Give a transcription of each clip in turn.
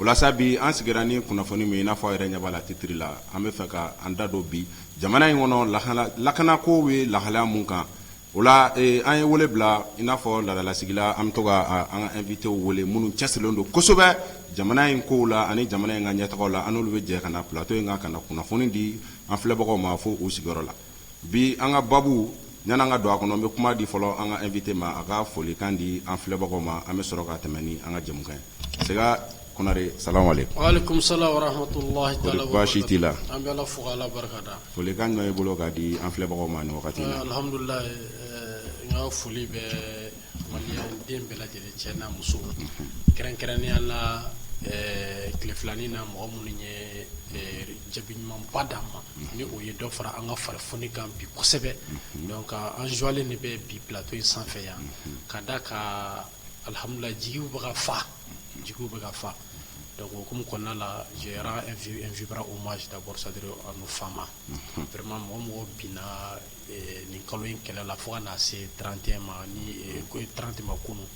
o la sa bi an sigira ni kunnafoni min ye i n'a fɔ a yɛrɛ ɲɛ b'a la titre la an bɛ fɛ ka an da don bi jamana in kɔnɔ lahala lakanako bɛ lahalaya min kan o la ee an ye wele bila i n'a fɔ laadala sigi la an bɛ to ka an ka invitéw wele minnu cɛsirilen don kosɛbɛ jamana in kow la ani jamana in ka ɲɛtagaw la an n'olu bɛ jɛ ka na plateau in kan ka na kunnafoni di an filɛbagaw ma fo u sigiyɔrɔ la Bi an ka babu yanni an ka don a kɔnɔ, n bɛ kuma di fɔlɔ an ka invité ma, a ka folikan di an filɛbagaw ma, an bɛ sɔrɔ ka tɛmɛ ni an ka jɛmukan ye. Sega Konare salamu aleyikoum. Waleykoum salam wa rahmatulahi taala wa barakatu. Kori baasi t'i la? An bɛ Ala fo ka Ala barikada. Folikan jumɛn b'i bolo k'a di an filɛbagaw ma ni wagati in na? Alihamidulilahi n ka foli bɛ Maliyɛn den bɛɛ lajɛlen cɛ n'a muso kɛrɛnkɛrɛnnenya la ɛɛ tile fila nin na mɔgɔ minnu ye Jaabi ɲumanba d'an ma ni o ye dɔ fara an ka fari foni kan bi kosɛbɛ donc an joie-len de bɛ bi plateau in sanfɛ yan ka d'a kan alihamidulilahi jigiw bɛ ka fa jigiw bɛ ka fa donc o hukumu kɔnɔna la je rends un vibrant hommage d'abord c'est-à-dire à nos FAMa vraiment mɔgɔ o mɔgɔ binna nin kalo in kɛlɛ la fo ka na se trente et un ma ni trente ma kunun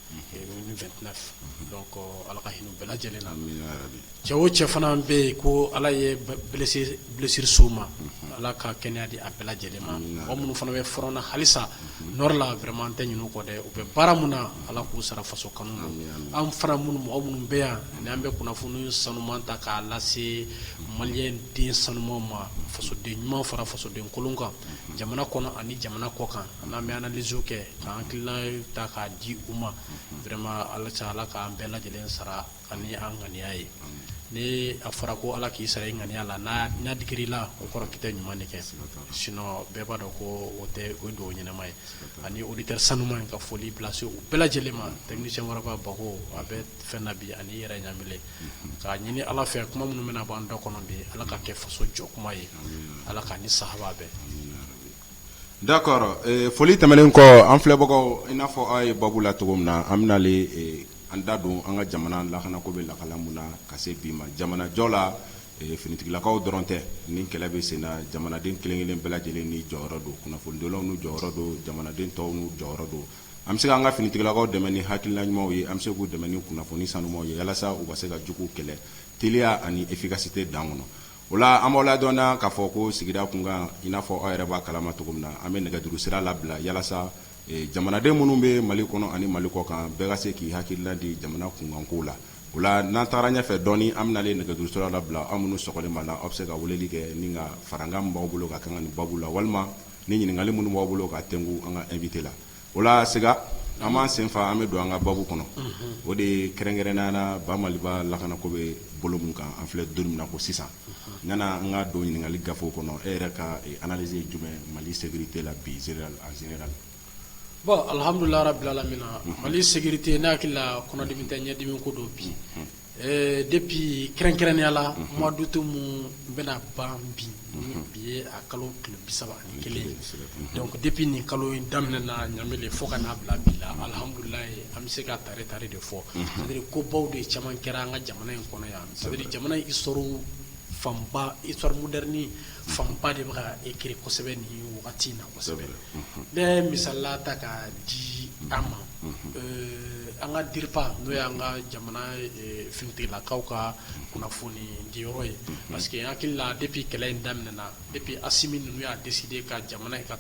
vingt-neuf donc ala ka hinɛ bɛɛ lajɛlen na cɛ o cɛ fana bɛ yen ko ala ye blessure s'u ma ala ka kɛnɛya di a bɛɛ lajɛlen ma mɔgɔ minnu fana bɛ front na halisa nord la vraiment n tɛ ɲinɛ u kɔ dɛ u bɛ baara min na ala k'u sara faso kanu na an fana minnu mɔgɔ minnu bɛ yan ni an bɛ kunnafoni sanuman ta k'a lase Maliyɛn den sanuman ma fasoden ɲuman fara fasoden kolon kan jamana kɔnɔ ani jamana kɔ kan n'an bɛ analyse kɛ k'an hakilila ta k'a di u ma vraiment ala k'an bɛɛ lajɛlen sara ani an ŋaniya ye ni a fɔra ko ala k'i sara i ŋaniya la n'a digira i la o kɔrɔ k'i tɛ ɲuman de kɛ sinon bɛɛ b'a dɔn ko o ye dugawu ɲɛnama ye ani auditeur sanuman n ka foli bɛ lase u bɛɛ lajɛlen ma technicien Waraba Bako a bɛ fɛn bi ani i yɛrɛ ɲa k'a ɲini ala fɛ kuma minnu bɛna bɔ an da kɔnɔ bi ala k'a kɛ faso jɔ kuma ye ala k'a ni sahaba bɛn d'accord foli tɛmɛnen kɔ an filɛbagaw i n'a fɔ aw ye babu la cogo min na an bɛnale an da don an ka jamana lakanako bɛ lahala min na ka se bi ma jamanajɔ la finitigilakaw dɔrɔn tɛ ni kɛlɛ bɛ sen na jamanaden kelenkelen bɛɛ lajɛlen n'i jɔyɔrɔ don kunnafonidilaw n'u jɔyɔrɔ don jamanaden tɔw n'u jɔyɔrɔ don An bɛ se k'an ka finitigilakaw dɛmɛ ni hakilila ɲumanw ye an bɛ se k'u dɛmɛ ni kunnafoni sanumanw ye walasa u ka se ka juguw kɛlɛ teliya ani efficacité dan kɔnɔ o la an b'aw ladɔnniya k'a fɔ ko sigida kunkan i n'a fɔ aw yɛrɛ b'a kalama cogo min na an bɛ nɛgɛjuru sira labila walasa jamanaden minnu bɛ mali kɔnɔ ani mali kɔ kan bɛɛ ka se k'i hakilila di jamana kunkanko la o la n'an taara ɲɛfɛ dɔɔnin an bɛnale nɛgɛjuru sira labila aw minnu sago b'a la aw bɛ se ka weleli kɛ ni ka farankan b'aw bolo ka kan nin babu la walima ni ɲininkali minnu b'aw bolo ka tɛnku an ka invité la o la Sega an b'an senfa an bɛ don an ka baabu kɔnɔ o de ye kɛrɛnkɛrɛnnenya la ba maliba lakana ko bɛ bolo min kan an filɛ don min na ko sisan ɲana an ka don ɲininkali gafew kɔnɔ e yɛrɛ ka analyse jumɛn mali sécurité la bi en général bon alihamdulilahi rabil alamina mali sécurité ne hakili la kɔnɔdimi tɛ ɲɛdimi ko don bi Ɛɛ depuis kɛrɛnkɛrɛnnenya la mois d'août min bɛna ban bi bi ye a kalo tile bi saba ni kelen donc depuis nin kalo in daminɛna Ɲamele fo ka n'a bila bi la alihamdulila an bɛ se ka tare tare de fɔ c'est-à-dire ko baw de caman kɛra an ka jamana in kɔnɔ yan c'est-à-dire jamana in histoire fanba histoire moderne fanba de bɛ ka écrit kosɛbɛ nin wagati in na ne ye misala ta ka di an ma an ka DIRPA n'o y'an ka jamana finitigilakaw ka kunnafoni di yɔrɔ ye parce que hakili la depuis kɛlɛ in daminɛna depuis Assimi ninnu y'a décidé ka jamana ka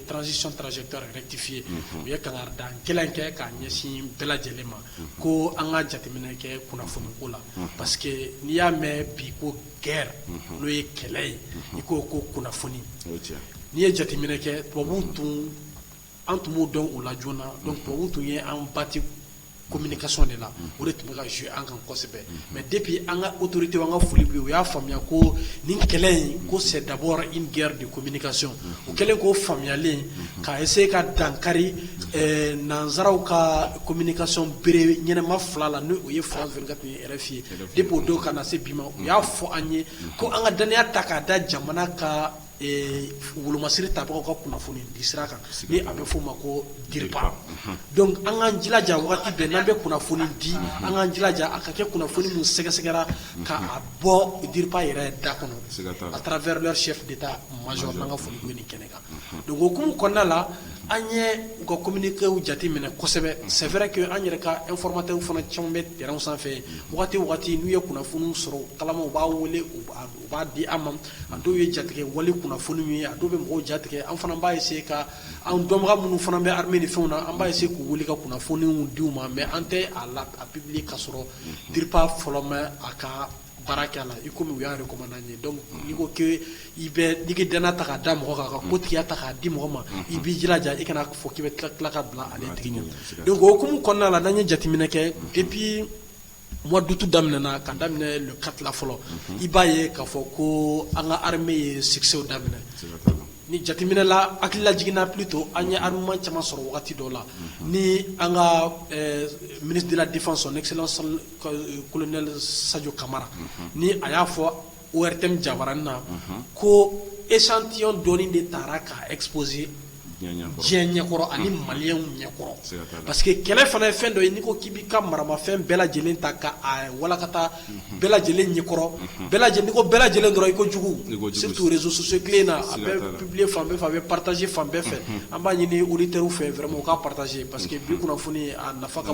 transition trajectoire rectifié u ye kangarida gɛlɛn kɛ k'a ɲɛsin bɛɛ lajɛlen ma ko an ka jateminɛ kɛ kunnafoniko la parce que n'i y'a mɛn bi ko guerre n'o ye kɛlɛ ye i ko ko kunnafoni n'i ye jateminɛ kɛ tubabu tun an tun b'o dɔn u la joona donc tubabu tun ye an bati communication de la o de tun bɛ ka jouer an kan kosɛbɛ mais depuis an ka autoritéw an ka foli bi u y'a faamuya ko nin kɛlɛ in ko c'est d'abord une guerre de communication u kɛlen k'o faamuyalen ka essayer ka dankari nansaraw ka communication bere ɲɛnɛma fila la n'o ye France 24 ni depuis o don ka na se bi ma u y'a fɔ an ye ko an ka dannaya ta k'a da jamana ka wolomasiri tabagaw ka kunnafoni di sira kan ni a bɛ f'o ma ko DIRPA donc an k'an jilaja waati bɛɛ n'an bɛ kunnafoni di an k'an jilaja a ka kɛ kunnafoni min sɛgɛsɛgɛra ka a bɔ DIRPA yɛrɛ da kɔnɔ à travers leur chef d'état major an ka foli b'o ye nin kɛnɛ kan donc o hukumu kɔnɔna la an ye u ka communiquéw jate minɛ kosɛbɛ c'est vrai que an yɛrɛ ka informateurs fana caman bɛ terrainw sanfɛ waati waati n'u ye kunnafoniw sɔrɔ kalama u b'a wele u b'a di an ma a dɔw ye jatigɛ wale kunnafoniw ye a dɔw bɛ mɔgɔw jatigɛ an fana b'a essayer ka an dɔnbaga minnu fana bɛ armée ni fɛnw na an b'a essayer k'u wele ka kunnafoniw di u ma mais an tɛ a publier ka sɔrɔ DIRPA fɔlɔ ma a ka baara kɛ a la i komi u y'a recommandé an ye donc n'i ko k'i bɛ i bɛ n'i k'i dannaya ta k'a da mɔgɔ kan ka ko tigiya ta k'a di mɔgɔ ma i b'i jilaja i kana fɔ k'i bɛ tila tila ka bila ale tigi ɲɛ donc o hukumu kɔnɔna la n'an ye jateminɛ kɛ depuis mois d'août daminɛna ka daminɛ le 4 la fɔlɔ i b'a ye k'a fɔ ko an ka armée ye succès daminɛ ni jateminɛ la hakilila jiginna plutôt an ye armement caman sɔrɔ wagati dɔ la ni an ka euh, ministre de la défense son excellence colonel Sadio Kamara ni a y'a fɔ ORTM jabaranin na ko échantillon dɔɔni de taara ka exposer diɲɛ ɲɛkɔrɔ ani maliyɛnw ɲɛkɔrɔ parce que kɛlɛ fana ye fɛn dɔ ye n'i ko k'i b'i ka maramafɛn bɛɛ lajɛlen ta k'a walankata bɛɛ lajɛlen ɲɛkɔrɔ n'i ko bɛɛ lajɛlen dɔrɔn i ko jugu surtout réseaux sociaux in na a bɛ publier fan bɛɛ fɛ a bɛ partager fan bɛɛ fɛ an b'a ɲini auditeurs fɛ vraiment u ka partager parce que bi kunnafoni a nafa ka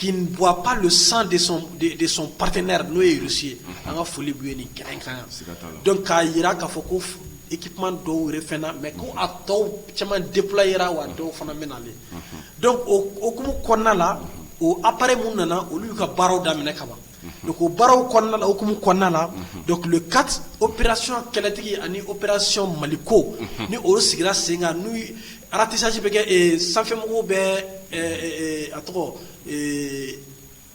qui ne boit pas le sang de son, de, de son partenaire n'o ye Russie ye mhm. an ka foli b'u ye nin kɛnɛ kan donc k'a jira k'a fɔ ko équipement dɔw yɛrɛ fɛn na mais ko a tɔw caman déployera wa mhm. dɔw fana bɛ nalen mhm. donc o hukumu kɔnɔna la o appareil mun nana olu y'u ka baaraw daminɛ kaban donc o baaraw kɔnɔna o hukumu kɔnɔna na donc le quatre opération kɛlɛtigi ani opération Maliko ni o sigira sen kan n'u ratissage bɛ kɛ sanfɛmɔgɔw bɛ a tɔgɔ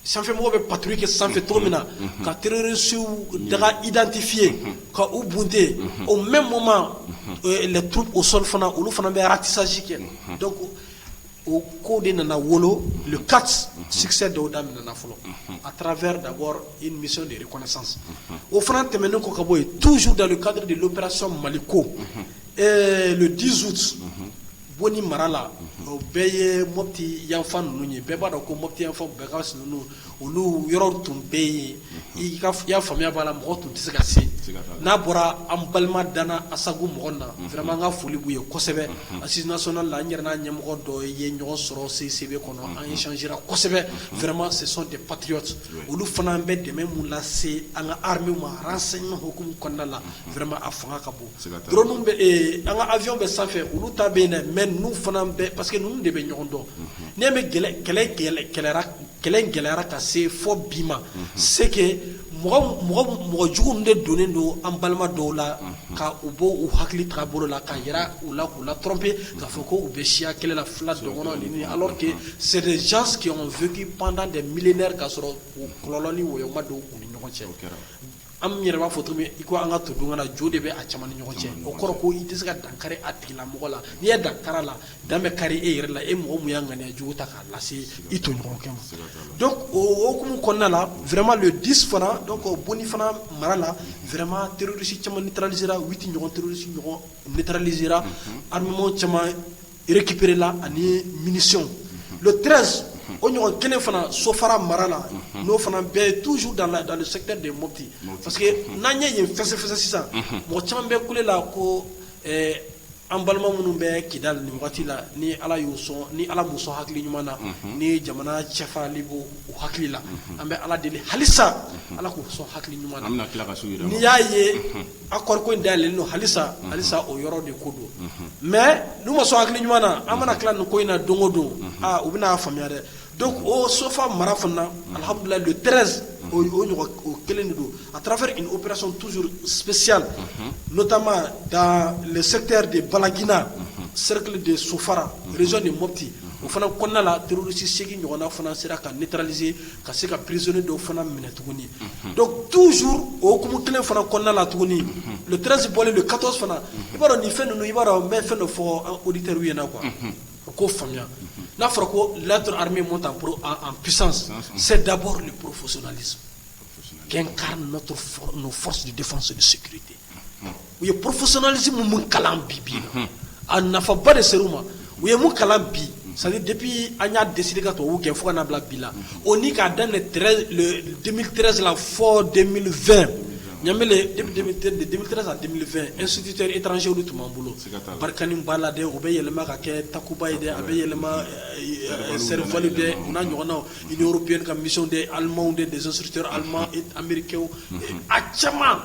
sanfɛmɔgɔ bɛ patrouille kɛ sanfɛ cogo min na ka terorisiw daga identifier ka u bunte au même moment les troupes au sol fana olu fana bɛ ratissage kɛ o ko de nana wolo ka sikisɛ dɔw da nana fɔlɔ a taara da bɔ i mi de ye kɔnɛ san o fana tɛmɛn ne ko ka bɔ yen tuusu da kadi de pere sɔn mali ko diz bɔ ni marala o bɛɛ ye moti yanfan ninnu ye bɛɛ b'a dɔn ko moti yanfan bɛɛ ka sunun olu yɔrɔ tun bɛ yen i y'a faamuya b'a la mɔgɔ tun tɛ se ka se n'a bɔra an balima danana asago mɔgɔ na fɛma an ka foli b' ye kosɛbɛ a sinina sɔnna la an yɛrɛ n'a ɲɛmɔgɔ dɔ ye ɲɔgɔn sɔrɔ sen sebe kɔnɔ an ye sɔnsi kosɛbɛ fɛrɛma se de patiy olu fana an bɛ dɛmɛ min lase an ka ha ma se hkumu kɔnɔnada la fɛrɛma a fanga ka bon dɔrɔn bɛ an ka ayw bɛ sanfɛ olu ta bɛ yen dɛ mɛ n fana bɛɛ pa que ninnu de bɛ ɲɔgɔn dɔn n bɛ kɛlɛ kɛlɛ kɛlɛ kɛlɛ in gɛlɛyara ka se fɔ bi ma c'est que mɔgɔ jugu de donnen don an balima dɔw la ka u bɔ u hakili taabolo la ka jira u la k'u la tromper k'a fɔ ko u bɛ siya kɛlɛ la fula dɔgɔnɔ ninnu alors que c'est des gens qui ont vécu pendant des millénaires k'a sɔrɔ kɔlɔlɔ ni wɔyɔ ma don u ni ɲɔgɔn cɛ. An yɛrɛ b'a fɔ cogo min i ko an ka to don ka jo de bɛ a caman ni ɲɔgɔn cɛ o kɔrɔ ko i tɛ se ka dan kari a tigila mɔgɔ la n'i ye dan kari a la dan bɛ kari e yɛrɛ la e mɔgɔ min ye ŋaniya jugu ta k'a lase i tɔɲɔgɔnkɛ ma donc o hukumu kɔnɔna la vraiment le dix fana donc Boni fana mara la vraiment terorisi caman neutralisera huit ɲɔgɔn terorisi ɲɔgɔn neutralisera armement caman récupéré-la ani munition le 13 o ɲɔgɔn kelen fana Sofara mara la n'o fana bɛ toujours dans la dans le secteur de Mopti parce que n'an ye yen fɛsɛfɛsɛ sisan mɔgɔ caman bɛ kule la ko ɛɛ an balima minnu bɛ Kidal nin wagati la ni Ala y'u sɔn ni Ala m'u sɔn hakili ɲuman na ni jamana cɛfarali b'u u hakili la an bɛ Ala deli halisa Ala k'u sɔn hakili ɲuman na an bɛna tila ka s'u yɛrɛ ma n'i y'a ye a kɔrɔ ko in da don halisa halisa o yɔrɔ de ko don mɛ n'u ma sɔn hakili ɲɔgɔn na an mana tila nin ko in na don o don u bɛna'a faamuya dɛ don o sofa mara fana alihamududulila don tɛrez o o kelen de don a taara fɛ o pere sɔn tuurusiyali n'otama da sɛte de balagina serikili de sofara rez de moti o fana kɔnɔnala duuruurusi segingin ɲɔgɔnna fana sera ka netralize ka se ka prizoni dɔw fana minɛ tuguni dɔnku tuusu okumu kelen fana kɔnɔna la tuguni tsi bɔlen don katɔ fana i b'a dɔn nin fɛn ninnu i b'a dɔn bɛ fɛn dɔ fɔ oditɛri ɲɛna qu u ko faamuya n'a fɔra ko lato hamimu ta psan sɛ dabɔ ni porofsola kɛ n' fɔsi de fana so bɛ site u ye professionnalisme min kalan bi bi in na, a nafaba de sera u ma, u ye mun kalan bi c'est à dire depuis an y'a décidé ka tubabuw gɛn fo ka n'a bila bi la, o ni k'a daminɛ 13 le 2013 la fo 2020 Ɲanmele depuis 2013 de 2013 à 2020 instituteur étranger olu tun b'an bolo, siga t'a la, Barkhane b'a la dɛ, o bɛ yɛlɛma ka kɛ Takuba ye dɛ, a bɛ yɛlɛma Serval dɛ o n'a ɲɔgɔnnaw Union européenne ka mission de Allemands de des instructeurs allemands américains a caman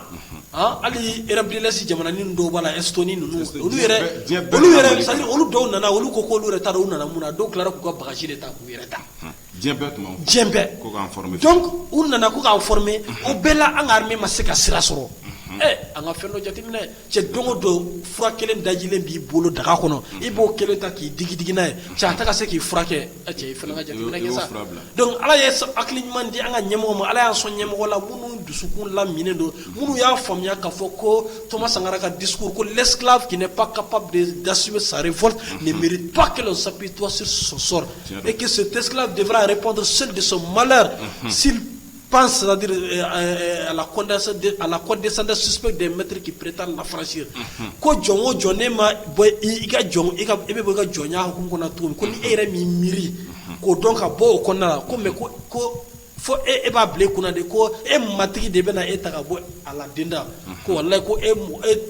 hali Europe de l'Est jamananin dɔw b'a la Estonie ninnu olu yɛrɛ olu dɔw nana olu ko ko olu yɛrɛ t'a dɔn u nana mun na dɔw tila k'u ka bagage de ta k'u yɛrɛ ta donc u nana ko k'an former o bɛɛ la an ka armée ma se ka sira sɔrɔ ɛ an ka fɛn dɔ jateminɛ cɛ don o don fura kelen dajilen b'i bolo daga kɔnɔ i b'o kelen ta k'i digi digi n'a ye cɛ a tɛ ka se k'i furakɛ ɛ cɛ i fana ka jateminɛ kɛ sa donc Ala ye hakili ɲuman di an ka ɲɛmɔgɔ ma Ala y'an sɔn ɲɛmɔgɔ la minnu dusukun laminnen don minnu y'a faamuya k'a fɔ ko Thomas Sankara ka discours ko l'esclave qui n'est pas capable de d'assumer sa révolte ne mérite pas que l'on s'apitoie sur son sort et que cet esclave devra répondre seul de son malheur s'il pense c'est-à-dire à la condescendance suspecte de maître qui prétend l'affranchir ko jɔn o jɔn n'e ma bɔ i ka jɔnya e bɛ bɔ i ka jɔnya hukumu kɔnɔ tuguni ko n'e yɛrɛ m'i miiri k'o dɔn ka bɔ o kɔnɔna ko mɛ ko ko fo e e b'a bila i kun na de ko e matigi de bɛna e ta ka bɔ a la denda ko wallahi ko e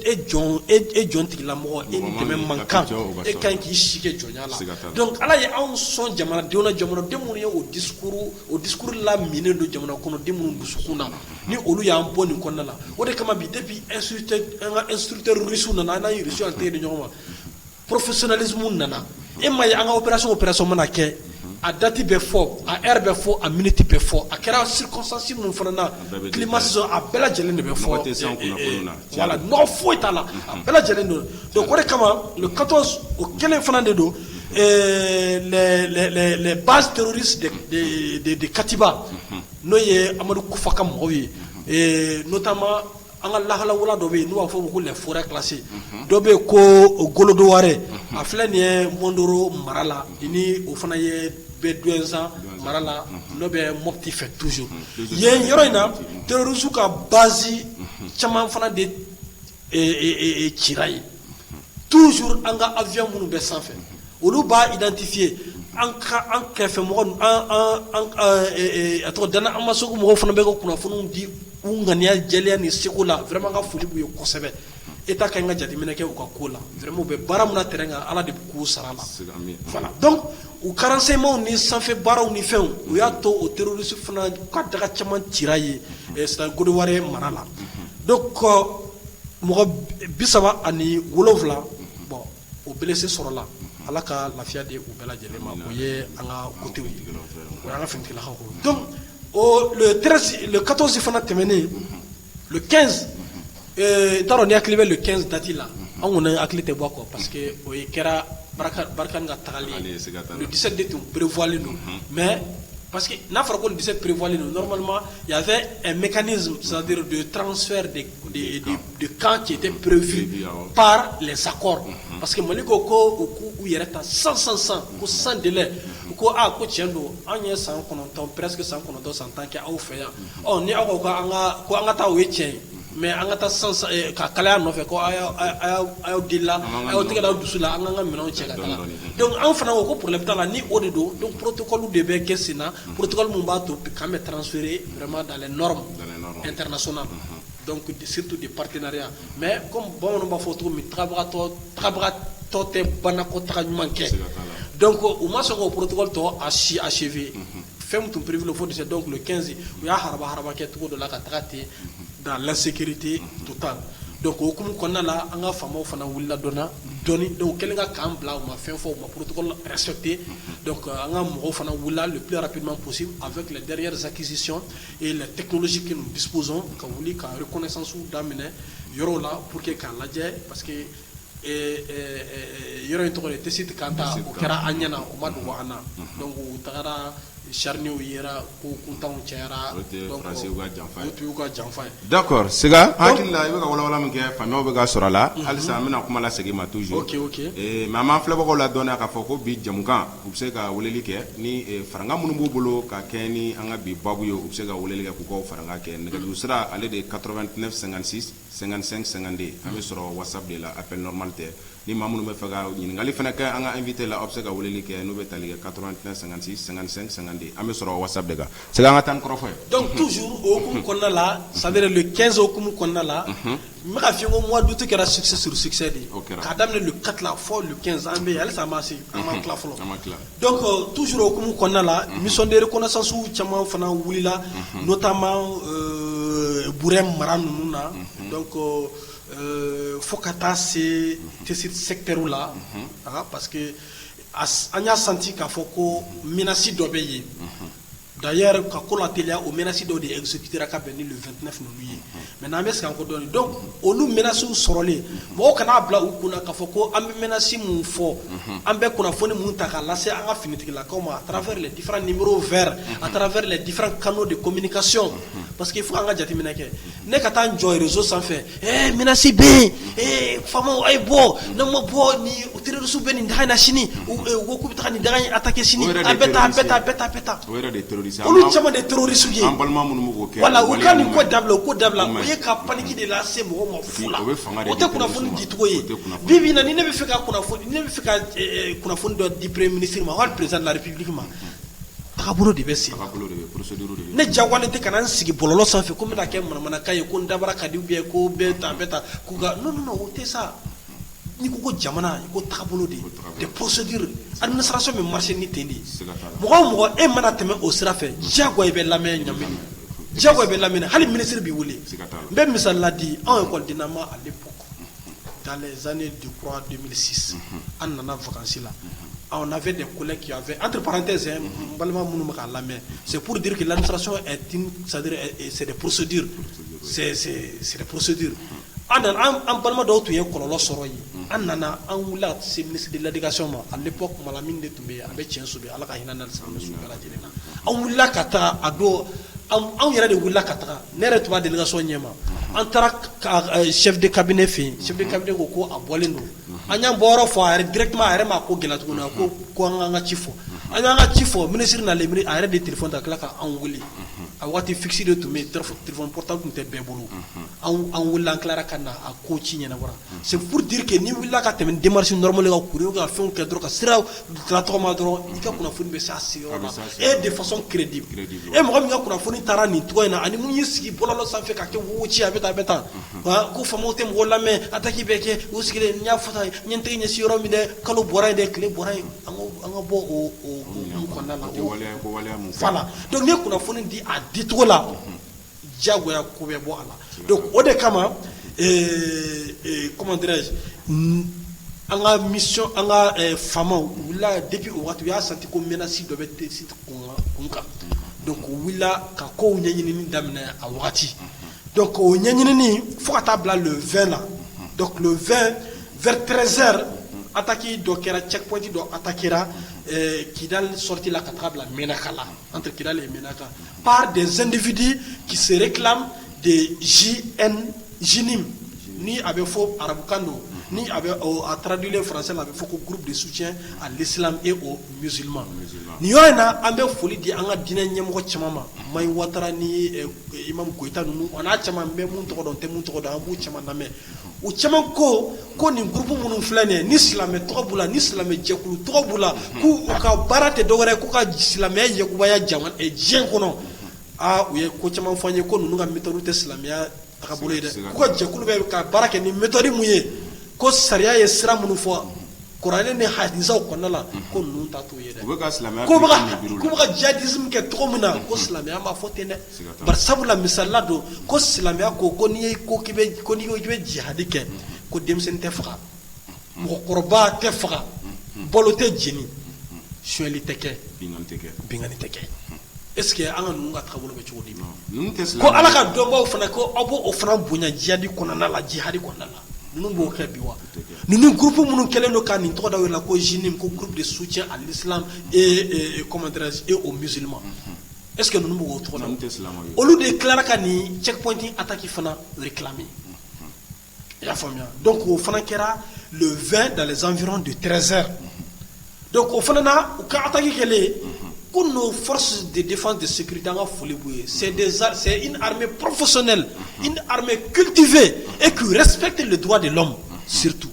e jɔn tigilamɔgɔ e dɛmɛ man kan e ka kan k'i si kɛ jɔnya la donc Ala ye anw sɔn jamanadenw jamanaden min ye o discours o discours la minen don jamana kɔnɔ den minnu dusukun na ni olu y'an bɔ nin kɔnɔna la o de kama bi depuis instructeur an ka instructeur russe nana an n'an ye russe an tɛgɛ di ɲɔgɔn ma professionnalisme nana e m'a ye an ka opération opération mana kɛ a date bɛ fɔ a heure bɛ fɔ a minute bɛ fɔ a kɛra circonstance minnu fana na climat saison a bɛɛ lajɛlen de bɛ fɔ nɔgɔ tɛ se an kunnafoniw na Voilà nɔgɔ foyi t'a la a bɛɛ lajɛlen don donc o de kama le 14 o kelen fana de don ɛɛ les les les les bases terroristes de de de de Katiba unhun n'o ye Amadu Kufa ka mɔgɔw ye ee notamment an ka lahala wula dɔ bɛ yen n'u b'a fɔ o ma ko les forêts classées unhun dɔ bɛ yen ko o Golodoware unhun a filɛ nin ye Mɔndoro mara la i ni o fana ye bɛ Douentza mara la unhun n'o bɛ Mopti fɛ toujours yen yɔrɔ in na terroristes ka base caman fana de cira yen toujours an ka avion minnu bɛ sanfɛ olu b'a identifier an an kɛrɛfɛ mɔgɔ a tɔgɔ dan an ma segu mɔgɔw fana bɛ ka kunnafoniw di u ŋaniya jɛlenya ni seko la vraiment ka foli b'u ye kosɛbɛ État ka kan ka jateminɛ kɛ u ka ko la vraiment u bɛ baara min na terrain kan ala de bɛ k'u sara la U ka renseignements ni sanfɛ baaraw ni fɛnw u y'a to o terroriste fana ka daga caman cira yen c'est-à-dire Golodoware mara la donc mɔgɔ bi saba ani wolowula bon o blessé sɔrɔla ala ka lafiya di u bɛɛ lajɛlen ma o ye an ka côté ye o y'an ka finitigilakaw donc le 14 fana tɛmɛnen ɲɛ bɛ kɛnsi dati la an kɔni hakili tɛ bɔ kɔ parce que o kɛra barika ka tagali dise de tun perepfɔlen don mɛ pa que n'a fɔra ko dese perepfɔlen don nɔrɔma yan fɛ mɛni sadi don ye tarawelesɛ de kan cɛ tɛ perefi pa sakɔ parce que mali ko ko u k' u yɛrɛ ta san san san ko san dela u ko aa ko cɛn don an ye san kɔnɔntɔn pɛs san kɔnɔntɔn san tan kɛ aw fɛ yan Ni aw ko an ko an ka taa ye cɛ ye mɛ an ka taa ka kalaya nɔfɛ awla aw tɛgɛ dusu la an ka minɛn cɛ anw fana ko porobi la ni o de don porotokolo de bɛ kɛ sen na poroka min b'a to an bɛ taarazurema so situ de patereya mɛ ko bamananw b'a fɔ cogobagatɔtɔ tɛ banako taga ɲuman kɛ ko u ma sɔn k' porotokɔtɔ a si a sefe fɛn tun perepvri fo dese dɔw tun kɛsin u y'a ha haba kɛ cogo dɔ la ka taga ten da lasekirite tu tan don ko okumu kɔnɔna la an ka faw fana wulila dɔnna dɔn dɔw kɛlen ka k'an bila u ma fɛn fɔ u ma porotesɛte an ka mɔgɔw fana wulila ppilara ppma gosi a fɛ tile dɛsɛkisɛsisi e la tɛsi kelen duspoz ka wuli kare kɔnɛsansu daminɛ yɔrɔ la pour que k'a lajɛ pa que yɔrɔ in tɔgɔ tɛ se kan ta o kɛra an ɲɛna o ma dogo an na u taara charnier yɛrɛ ko kuntanw cayara y'u ka janfa ye d'accord Sega hakili la i bɛ ka walawala min kɛ faamuyaw bɛ ka sɔrɔ a la halisa an bɛna kuma lasegin i ma toujours mais an b'an filɛbagaw ladɔnniya k'a fɔ ko bi jamukan u bɛ se ka weleli kɛ ni farankan minnu b'u bolo ka kɛ ni an ka bi babu ye u bɛ se ka weleli kɛ k'u ka farankan kɛ nɛgɛjuru sira ale de ye 89 56 55 52 an bɛ sɔrɔ whatsapp de la appel normal tɛ ni maa minnu bɛ fɛ ka ɲininkali fana kɛ an ka invité la aw bɛ se ka weleli kɛ n'o bɛ tali kɛ 89 56 55 52 an bɛ sɔrɔ whatsapp de kan Sega an ka taa ni kɔrɔfɔ ye donc toujours o hukumu kɔnɔna la c'est à dire le 15 hukumu kɔnɔna la n bɛ ka f'i ye ko mois d'août kɛra succès sur succès de ye k'a daminɛ le 4 la fɔ le 15 an bɛ yen halisa an ma se an ma tila fɔlɔ Don tu s okumu kɔnɔna la nisɔnden kɔnɔsansuw caman fana wulila n'o taama b mara ninnu na ko fo ka taa se te sɛgterir la a parce que an y'a santi k'a fɔ ko msi dɔ bɛ yen Da ka ko la telileya o msi dɔw de esukira ka bɛn ni fɛnt ninnuu ye mɛ n'an bɛ san ko dɔn dɔn olu msiw sɔrɔlen mɔgɔ kana'a bila u kun k'a fɔ ko an bɛsi min fɔ an bɛ kunnafoni minnu ta k'a lase an ka finitigilakaw ma a taara fɛɛrɛ difa niuru fɛɛrɛ a taara fɛɛrɛ difa kanu de ko minikasiy pa que fo an ka jateminɛ kɛ Ne ka taa n jɔ réseau sanfɛ ɛɛ menace bɛ yen FAMa a ye bɔ n'a ma bɔ ni terroristes bɛ nin daga in na sini ko k'u bɛ taa nin daga in attaquer sini a bɛ taa a bɛ taa a bɛ taa olu caman de terroristes ye an balima minnu b'o kɛ voilà u ka nin ko dabila ko dabila o ye ka paniki de lase mɔgɔ ma fu la o tɛ kunnafoni dicogo ye bi bi in na ni ne bɛ fɛ ka kunnafoni ne bɛ fɛ ka kunnafoni dɔ di premier ministre ma wali président de la république ma taabolo de bɛ sen ne jagoyalen tɛ ka na n sigi bɔlɔlɔ sanfɛ ko n bɛna kɛ manamanakan ye ko n dabara ka di ou bien ko bɛ taa bɛ taa non o tɛ sa n'i ko ko jamana i ko taabolo de des procédures administration bɛ marcher ni ten de mɔgɔ o mɔgɔ e mana tɛmɛ o sira fɛ jagoya i bɛ lamɛn ɲa jagoya i bɛ lamɛn hali ministre b'i wele n bɛ misali di anw ekɔlidennama à l'époque dans les années je crois 2006 an nana vacances la on avait des collègues qui avaient entre parenthèses hein, an balima minnu bɛ k'an lamɛn c'est pour dire que l'administration est une c'est à dire c'est des procédures c'est c'est c'est des procédures an nana an balima dɔw tun ye kɔlɔlɔ sɔrɔ yen an nana an wulila ka se ministre de l'éducation ma à l'époque Malamine de tun bɛ yen a bɛ tiɲɛso bi Ala ka hinɛ n'a ni silamɛ su bɛɛ lajɛlen na an wulila ka taa a don anw yɛrɛ de wulila ka taga ne yɛrɛ tun b'a délégation ɲɛma an taara chef de cabinet fɛ yen chef de cabinet ko ko a bɔlen don an y'an bɔyɔrɔ fɔ a yɛrɛ directement a yɛrɛ ma ko gɛlɛya tuguni a ko ko an an ka ci fɔ an y'an ka ci fɔ ministre nalen a yɛrɛ de téléphone ta tila ka anw wele a waati fixe de tun bɛ yen téléphone portable tun tɛ bɛɛ bolo an welela an tilara ka na a ko ci ɲɛnabɔra c'est pour dire que n'i wulila ka tɛmɛ démarche normale ka courrier ka fɛn kɛ dɔrɔn ka sira tɔgɔma dɔrɔn i ka kunnafoni bɛ se et de façon crédible e mɔgɔ min ka kunnafoni taara nin cogo in na ani min y'i sigi bɔlɔlɔ sanfɛ ka kɛ wo ci a bɛ tan a bɛ tan ko faamaw tɛ mɔgɔ lamɛn attaque bɛ kɛ u sigilen n y'a fɔ tan n ye n tɛgɛ ɲɛsin yɔrɔ min dɛ kalo bɔra yen dɛ tile bɔra yen an ka bɔ o la donc n'i ye kunnafoni di a dicogo la jagoya ko bɛ bɔ a la donc o de kama ee, ee, comment dirais-je an ka mission an ka eh, faamaw u wulila depuis o waati u y'a senti ko menace dɔ bɛ Tessit kun kan donc u wulila ka kow ɲɛɲinini daminɛ a wagati donc o ɲɛɲinini fo ka taa bila le 20 la donc le 20 vers 13 heures attaque dɔ kɛra checkpoint dɔ attaquera eh, kidal sortie la ka taga bila menaka la entre kidal et menaka Par des individus qui se réclament des JN, JNIM, ni a bɛ fɔ arabukan don ni a bɛ ɔ a traduire français la a bɛ fɔ ko groupe de soutien à l'islam et aux musulmans nin yɔrɔ in na an bɛ foli di an ka diinɛ ɲɛmɔgɔ caman ma Mahi Watara ni Imam Koyita ninnu o n'a caman n bɛ minnu tɔgɔ dɔn n tɛ minnu tɔgɔ dɔn an b'u caman lamɛn u caman ko ko nin groupe minnu filɛ nin ye ni silamɛ tɔgɔ b'u la ni silamɛ jɛkulu tɔgɔ b'u la k'u ka baara tɛ dɔwɛrɛ k'u ka silamɛya yakubaya diɲɛ kɔnɔ aa u ye ko caman fɔ an ye ko ninnu ka méthode tɛ silamɛya tagabolo ye dɛ k'u ka jɛkulu bɛ ka baara kɛ ni méthode min ye ko sariya ye sira minnu fɔ kuranɛ ni hadisaw kɔnɔna la ko ninnu ta t'o ye dɛ k'u bɛ ka djihadisme kɛ cogo min na ko silamɛya m'a fɔ ten dɛ sabula misali la don ko silamɛya ko ko n'i bɛ jihadi kɛ ko denmisɛnnin tɛ faga mɔgɔkɔrɔba tɛ faga balo tɛ jeni sonyɛli tɛ kɛ binkanni tɛ kɛ est-ce que an ka ninnu ka taabolo bɛ cogo di ma ko ala ka dɔnbaw fana ko aw b'o o fana bonya jihadi kɔnɔna la jihadi kɔnɔna la ninnu b'o kɛ bi wa ninnu groupe minnu kɛlen don ka nin tɔgɔ da u yɛrɛ la ko JNIM ko groupe de soutien à l'islam et comment dire et aux musulmans e tɛ olu de tila ka nin cɛ kɔnti a taki fana tila i y'a faamuya dɔn k'o fana kɛra fɛ da zan dɔrɔn de trɛnzeri don o fana na u ka taki kɛlen ko n'o fɔsi de de de siri an ka foli b' ye sɛ sɛ porofsɛli kitife e k'u yɛrɛ sɛbɛn tɛ de dugwa de lamu situ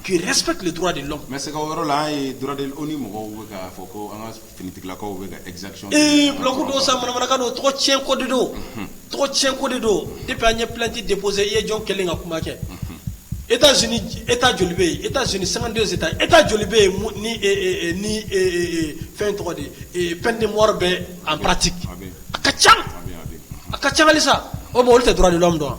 qui respecte les droits de l'homme mais sisan o yɔrɔ la an ye droits de l'homme ONU mɔgɔw bɛ k'a fɔ ko an ka finitigilakaw bɛ ka exaction kɛ ee bulɔku don sa manamanakan don tɔgɔ tiɲɛ ko de don tɔgɔ tiɲɛ ko de don depuis an ye plainte déposer i ye jɔn kelen ka kuma kɛ États Unis État joli bɛ yen États Unis 52 États État joli bɛ yen mun ni ee ni ee fɛn tɔgɔ di ee peine de mort bɛ en pratique a bɛ yen a ka ca a bɛ yen a bɛ yen a ka ca halisa o bon olu tɛ droits de l'homme dɔn wa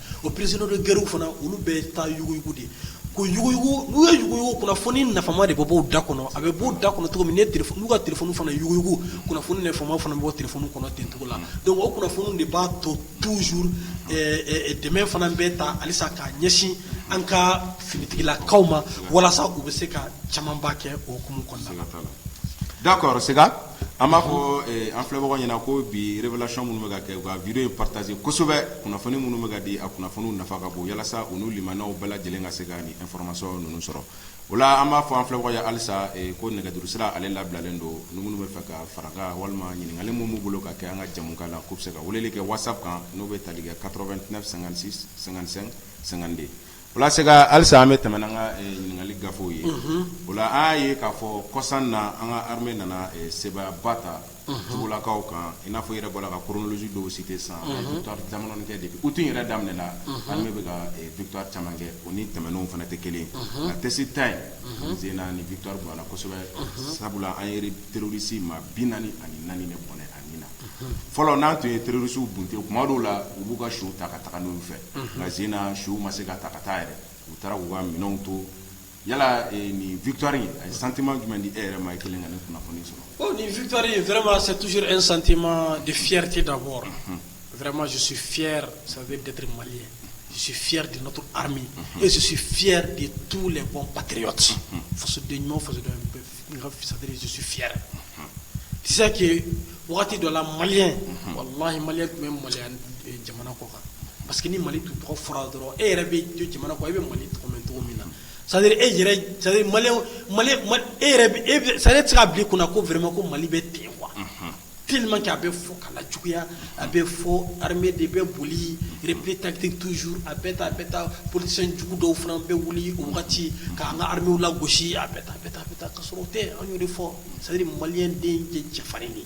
O prisonniers de guerre fana olu bɛ taa yuguyugu de ko n'u ye yuguyugu kunnafoni nafama de bɛ b'o da kɔnɔ a bɛ b'o da kɔnɔ cogo min n'u ka téléphone fana yuguyugu kunnafoni nafama fana bɔ téléphone kɔnɔ ten cogo la donc o kunnafoni de b'a to toujours dɛmɛ fana bɛ taa halisa ka ɲɛsin an ka finitigilakaw ma walasa u bɛ se ka camanba kɛ o kumu kɔnɔna la d'accord An b'a fɔ an filɛbagaw ɲɛna ko bi révélation minnu bɛ ka kɛ u ka video in partager kosɛbɛ kunnafoni minnu bɛ ka di a kunnafoniw nafa ka bon walasa u n'u limanaw bɛɛ lajɛlen ka se ka nin information ninnu sɔrɔ o la an b'a fɔ an filɛbagaw ye halisa ko nɛgɛjuru sira ale labilalen don ni minnu bɛ fɛ ka fara an kan walima ɲininkali minnu b'u bolo ka kɛ an ka jɛmukan na k'u bɛ se ka weleli kɛ whatsapp kan n'o bɛ tali kɛ 89 56 55 52 O la Sega halisa an bɛ tɛmɛ n'an ka ɲininkali gafew ye o la an y'a ye k'a fɔ kɔsan na an ka armée nana seba ba ta jugulakaw kan i n'a fɔ i yɛrɛ bɔla ka chronologie dɔw citer sisan victoire caman kɛ depuis août in yɛrɛ daminɛ la armée bɛ ka victoire caman kɛ o ni tɛmɛnenw fana tɛ kelen nka Tessit ta in sen na nin victoire bonyana kosɛbɛ sabula an yɛrɛ terroriste maa bi naani ani naani de bɔnɛ fɔlɔ n'an tun ye terroriste bunte kuma dɔw la u b'u ka suw ta ka taga n'u ye u fɛ nka sen in na suw ma se ka ta ka taa yɛrɛ u taara k'u ka minɛnw to yala nin victoire in a ye sentiment jumɛn di e yɛrɛ ma i kɛlen ka nin kunnafoni sɔrɔ bon nin victoire in vraiment c'est toujours un sentiment de fierté d'abord vraiment je suis fier ça veut d'être malien je suis fier de notre armée et je suis fier de tous les bons patriotes fasoden ɲuman fasoden Waati dɔ la malien wallahi malien tun bɛ maloya jamana kɔ kan parce que ni mali tun tɔgɔ fɔra dɔrɔn e yɛrɛ bɛ jamana kɔ e bɛ mali tɔgɔ mɛn cogo min na c'est à dire e yɛrɛ c'est à dire malien yɛrɛ de tun bɛ se k'a bila i kun na ko vraiment ko mali bɛ ten quoi tellement que a bɛ fɔ k'a lajuguya, a bɛ fɔ armée de bɛ boli repli tactique toujours a bɛ tan a bɛ tan politiciens jugu dɔw fana bɛ wili o wagati ka an ka arméew lagosi a bɛ tan a bɛ tan a bɛ tan ka sɔrɔ o tɛ an y'o de fɔ c'est à dire malien den ye cɛfarin de ye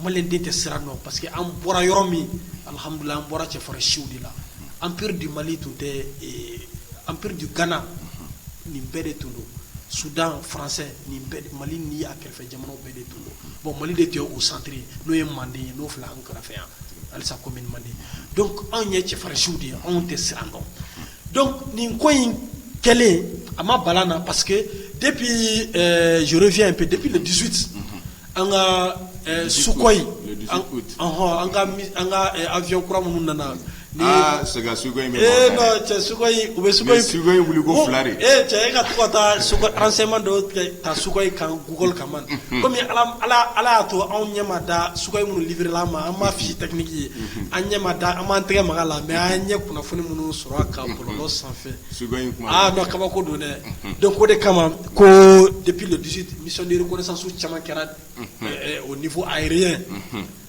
malien den tɛ siran dɔn parce que an bɔra yɔrɔ min alhamdoulillahi an bɔra cɛfarin siw de la empire du Mali tun tɛ eh, empire du Ghana nin bɛɛ de tun don Soudan français nin bɛɛ Mali ni a kɛrɛfɛ jamanaw bɛɛ de tun bon mali de tun ye o centre ye n'o ye manden ye n'o filɛ an kɛrɛfɛ yan halisa commune manden donc anw ye cɛfarinsiw de ye anw tɛ siran dɔn donc nin ko in kɛlen a ma bala n na parce que depuis eh, je reviens un peu depuis le 18 an ka eh, Sukhoi an ka eh, avion kura minnu nana Ni aa sɛgɛn su in bɛ ee cɛ in bɛ su in wili ko filari ee cɛ e ka to ka taa so an sema dɔw ka su in kan gugolo ka man kɔmi ala y'a to anw ɲɛ da su in minnu lila ma an ma fisi taki ye an ɲɛ da an tɛgɛ makan la mɛ an ɲɛ kunnafoni minnu sɔrɔ ka bɔ sanfɛ su dɔn kabako don dɛ don ko de kama ko depdiri kosan su caman kɛra o ni fɔ a ye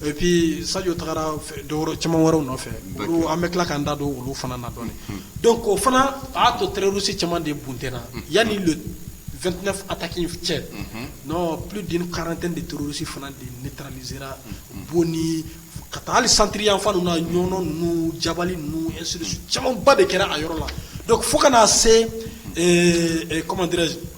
Epi sajo taara dɔw caman wɛrɛw nɔfɛ an bɛ tila ka da don olu fana na dɔn don ko fana y'a to tɛrrosi caman de bontna yan ni don2 a taki cɛ n pdi karante de tosi fana de ne taara ni sera bon ni ka taa hali santiriyafan na ɲɔn n ja ninnu camanba de kɛra a yɔrɔ la fo kana na se kɔmmandire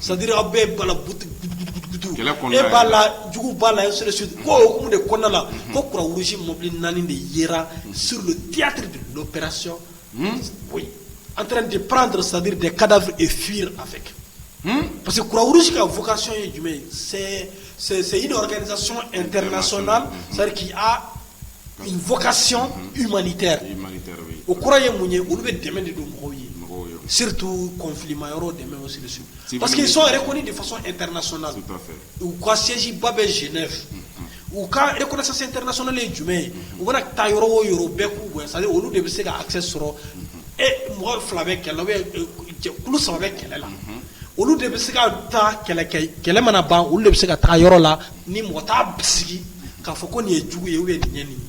Sadiri aw bɛ e bala b'a la jugu b'a la ko de kɔnɔna la ko kuransi mɔbili naani de ye sirotiyatiri pɛsi an taara de pan dɔrɔn sadiri de kada e fi a fɛ kɛ parce que kuransi ka fɔkasi ye jumɛn ye sɛ sɛ sɛyi dɔgɔ kɛ sɔn n tɛ sɔnna sariki vocation humanitaire o kɔrɔ ye mun ye olu bɛ dɛmɛ de don mɔgɔw ye surtout conflit ma yɔrɔ dɛmɛ parce qu'ils sont reconnus de façon internationale u ka siègeba bɛ Genève u ka reconnaissance internationale ye jumɛn ye u bɛna taa yɔrɔ o yɔrɔ bɛɛ ko c'est-à-dire olu de bɛ se ka accès sɔrɔ e mɔgɔ fila bɛ kɛlɛ bɛ saba bɛ kɛlɛ la olu de bɛ se ka taa kɛlɛ kɛlɛ mana ban olu de bɛ se ka taa yɔrɔ la ni mɔgɔ t'a bisigi k'a fɔ ko nin ye jugu ye ou bien nin ye nin ye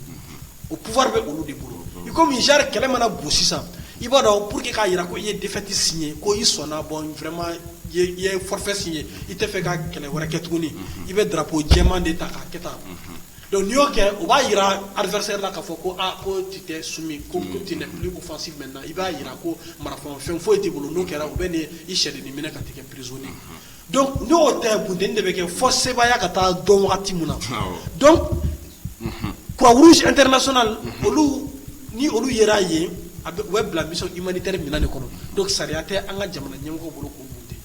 o pouvoir bɛ olu de bolo i komi genre kɛlɛ mana bon sisan i b'a dɔn pour que k'a jira ko i ye défaite signé ko i sɔnna bon vraiment i ye forfait signé i tɛ fɛ ka kɛlɛ wɛrɛ kɛ tuguni i bɛ drapeau jɛman de ta k'a kɛ tan donc n'i y'o kɛ o b'a jira adversaire la k'a fɔ ko ko tu t'es soumis ko tu n'es plus offensif maintenant i b'a jira ko marafafɛn foyi t'i bolo n'o kɛra u bɛ nin i sɛden ni minɛ ka t'i kɛ prisonnier Donc n'o tɛ bunteni de bɛ kɛ fo sebaaya ka taa dɔn wagati min na, awɔ, donc unhun, croix rouge internationale olu ni olu yera yen a bɛ u bɛ bila mission humanitaire minɛn de kɔnɔ donc sariya tɛ an ka jamana ɲɛmɔgɔw bolo k'u bunte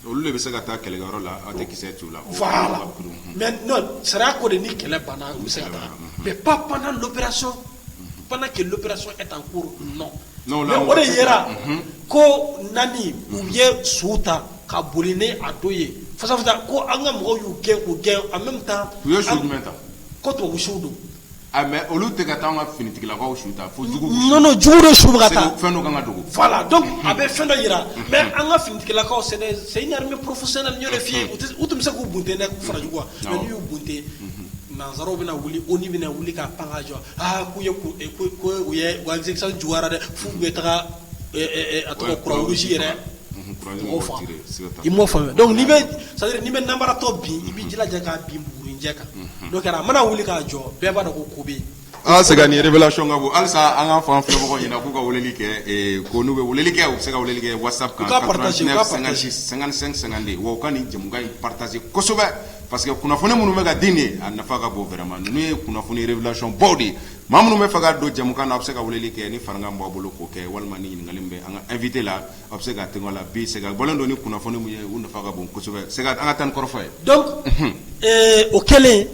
olu de bɛ se ka taa kɛlɛkɛyɔrɔ la aw tɛ kisɛ t'u la, voilà, mais non sariya ko de ni kɛlɛ banna u bɛ se ka taa mais pas pendant l'opération pendant que l'opération est en cours o de yera ko naani u ye su ta ka boli ni a dɔ ye fasa ko an ka mɔgɔw y'u gɛn u gɛn en même temps u ye su jumɛn ta ko tubabu suw don mais olu tɛ ka taa an ka finitigilakaw su ta fo jugu de su ka taa fɛn ka dogo voilà donc a bɛ fɛn dɔ jira mais an ka finitigilakaw c'est c'est une armée professionnelle n y'o de f'i ye u tun bɛ se k'u bunte dɛ k'u fara jugu wa a m'u bunte nansaraw bɛna wuli ONU bɛna wuli ka pan ka jɔ aa k'u ye u ye a juguyara dɛ f'u bɛ taga a tɔgɔ kuransi yɛrɛ i m'a faamuya dɔnku bɛ sa n'i bɛ nanbaratɔ bin i b'i jilaja k'a bin bugurijɛ kan kɛra a mana wuli k'a jɔ bɛɛ b'a dɔn ko ko bɛ Aa Sega nin révélation ka bon halisa an ka fan fɛ mɔgɔw ɲɛna k'u ka weleli kɛ ko n'u bɛ weleli kɛ u bɛ se ka weleli kɛ WhatsApp kan 89 56 55 52 wa u ka nin jɛmukan in partager kosɛbɛ parce que kunnafoni minnu bɛ ka di nin a nafa ka bon vraiment ninnu ye kunnafoni révélationbaw de ye maa minnu bɛ fɛ ka don jɛmukan na a bɛ se ka weleli kɛ ni farankan b'a bolo k'o kɛ walima ni ɲininkali bɛ an ka invité la a bɛ se ka la bi Sega bɔlen don ni kunnafoni minnu ye u nafa ka bon kosɛbɛ Sega an ka taa ni kɔrɔfɔ ye o kɛlen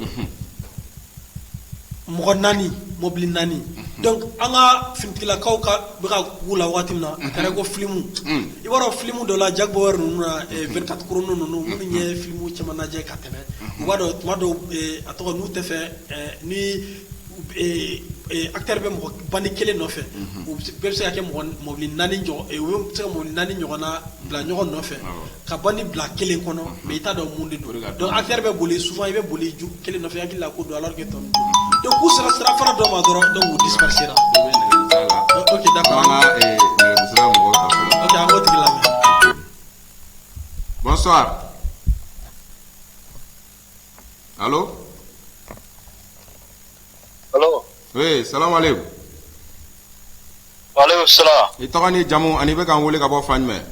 mɔgɔ naani mɔbili naani donc an ka finitigilakaw ka bɛ ka k'u la waati min na a kɛra ko filimu i b'a dɔn filimu dɔ la Jack Bauer ninnu na 24 chrono ninnu minnu ye filimu caman lajɛ ka tɛmɛ u b'a dɔn tuma dɔw a tɔgɔ n'u tɛ fɛ ni acteur bɛ mɔgɔ bandi kelen nɔfɛ u bɛɛ bɛ se ka kɛ mɔbili naani u bɛ se ka mɔbili naani ɲɔgɔnna bila ɲɔgɔn nɔfɛ Ka bandi bila kelen kɔnɔ mais i t'a dɔn mun de don donc acteur bɛ boli souvent i bɛ boli ju kelen nɔfɛ hakili la k'o don alors que tɔ ninnu donc k'u sera sirafara dɔ ma dɔrɔn donc u dispersera an b'o tigi la Allo Allo oui salamu aleyku walekum salam i tɔgɔ ni jamu ani i bɛ k'an wele ka bɔ fan jumɛn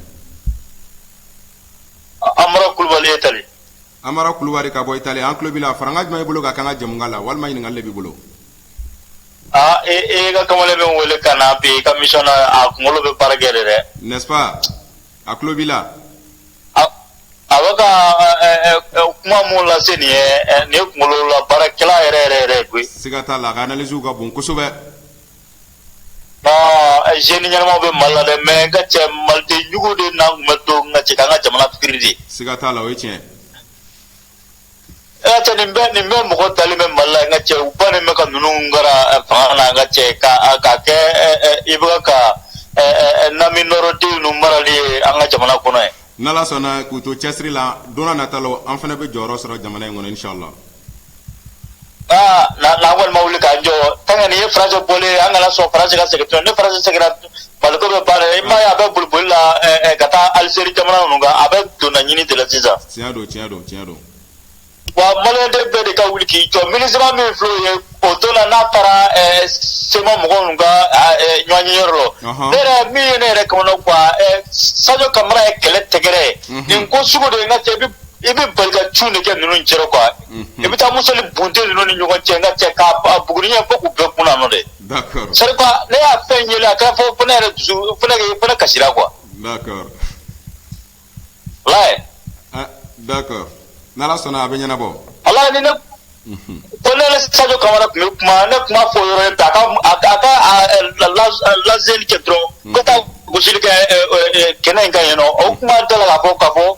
A- Amara Kulubali Italie Amara Kulubali ka bɔ Italie an tulo b'i la farankan jumɛn b'i bolo ka k'an ka jɛmukan la walima ɲininkali de b'i bolo aa e e ka kamalen min wele ka na bi i ka émission na a kunkolo bɛ baara kɛ de dɛ n'est-ce pas an tulo b'i la. A a bɛ ka ɛ ɛ ɛ ɛ kuma min lase nin ye ɛ nin ye kunkololabaarakɛla yɛrɛ yɛrɛ yɛrɛ koyi. Siga t'a la a ka analyses ka bon kosɛbɛ. Aa jeunes ɲɛnamaw bɛ Mali la dɛ mais n ka cɛ maliden jugu de na tun bɛ to n ka cɛ ka an ka jamana pɛrɛdi. Siga t'a la o ye tiɲɛ ye. Nin bɛ nin bɛ mɔgɔ dalen bɛ Mali la n ka cɛ u bannen bɛ ka ninnu gara fanga la n ka cɛ ka ka kɛ i bɛ ka ɲamɔgɔden ninnu marali ye an ka jamana kɔnɔ ye n'Ala sɔnna k'u to cɛsiri la don nata la an fana bɛ jɔyɔrɔ sɔrɔ jamana in kɔnɔ inshallah aa na na an kɔni ma wuli k'an jɔ tant que nin ye France bɔlen ye an kana sɔn France ka segin tuguni ni France seginna Mali ko bɛ ban dɛ i m'a ye a bɛ boli boli la ɛ ɛ ka taa Algérie jamana ninnu kan a bɛ donna ɲini de la sisan tiɲɛ don tiɲɛ don tiɲɛ don wa maliyɛnden bɛɛ de ka wuli k'i jɔ MINUSMA min filɛ o ye o don na n'a taara ɛ CMA mɔgɔ ninnu ka a, ɛ, ɲɔgɔnyeyɔrɔ la Ɔhɔn. ne yɛrɛ min ye ne yɛrɛ kamanagan ɛ Sajo Kamara ye kɛlɛ tɛgɛrɛ ye Mhm. nin ko sugu de ye n ka cɛ i bɛ i bɛ bali ka cun de kɛ ninnu cɛrɔ quoi i bɛ taa misili bon de ninnu ni ɲɔgɔn cɛ n ka cɛ k'a buguri ɲɛ fo k'u bɛɛ kun nɔ dɛ ne y'a fɛn ye a kɛra fo ne yɛrɛ dusu fo ne kasira quoi n'Ala sɔnna a bɛ ɲɛnabɔ walayi ni ne ko ne Sadio Kamara tun bɛ kuma ne kuma fɔ yɔrɔ ta lase cɛ dɔrɔn ka taa gosili kɛ kɛnɛ in kan yen nɔ o kuma dala la ka bɔ ka bɔ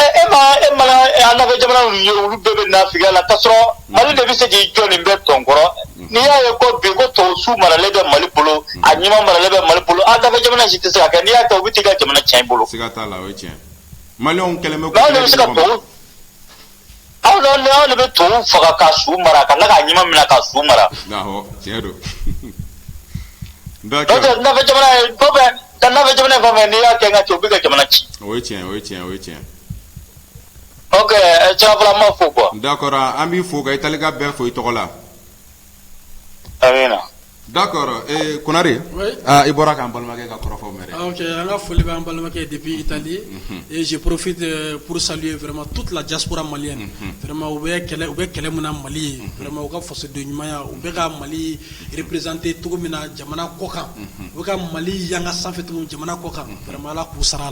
E ma an nafɛ jamanalu ye olu bɛɛ bɛ nafigiya la k'a sɔrɔ mali de bɛ se k'i jɔ nin bɛɛ tɔn kɔrɔ n'i y'a ye ko bi ko tubabu su maralen bɛ mali bolo a ɲuman maralen bɛ mali bolo an nafɛ jamana si tɛ se k'a kɛ n'i y'a kɛ u bɛ t'i ka jamana tiɲɛ i bolo Aw de bɛ to faga ka su mara ka ka ɲuman minɛ ka su mara n'i y'a kɛ ka to bɛ ka jamana ci ma fo an bɛ fo i ka bɛɛ fo i tɔgɔ la Da konare i bɔra k'an balimakɛ ka kɔrɔfɔfɔ mɛn an ka foli bɛ' balimakɛ de bi tan di eee porofin psali ye fɛma tu tilala jakura mali yan fɛma u bɛ kɛlɛ u bɛ kɛlɛ min mali ye fɛma u ka faso don ɲumanya u bɛ ka mali perepzte cogo min na jamana kɔkan u ka mali yanga sanfɛfɛtigiw jamana kɔkan fɛma k'u sara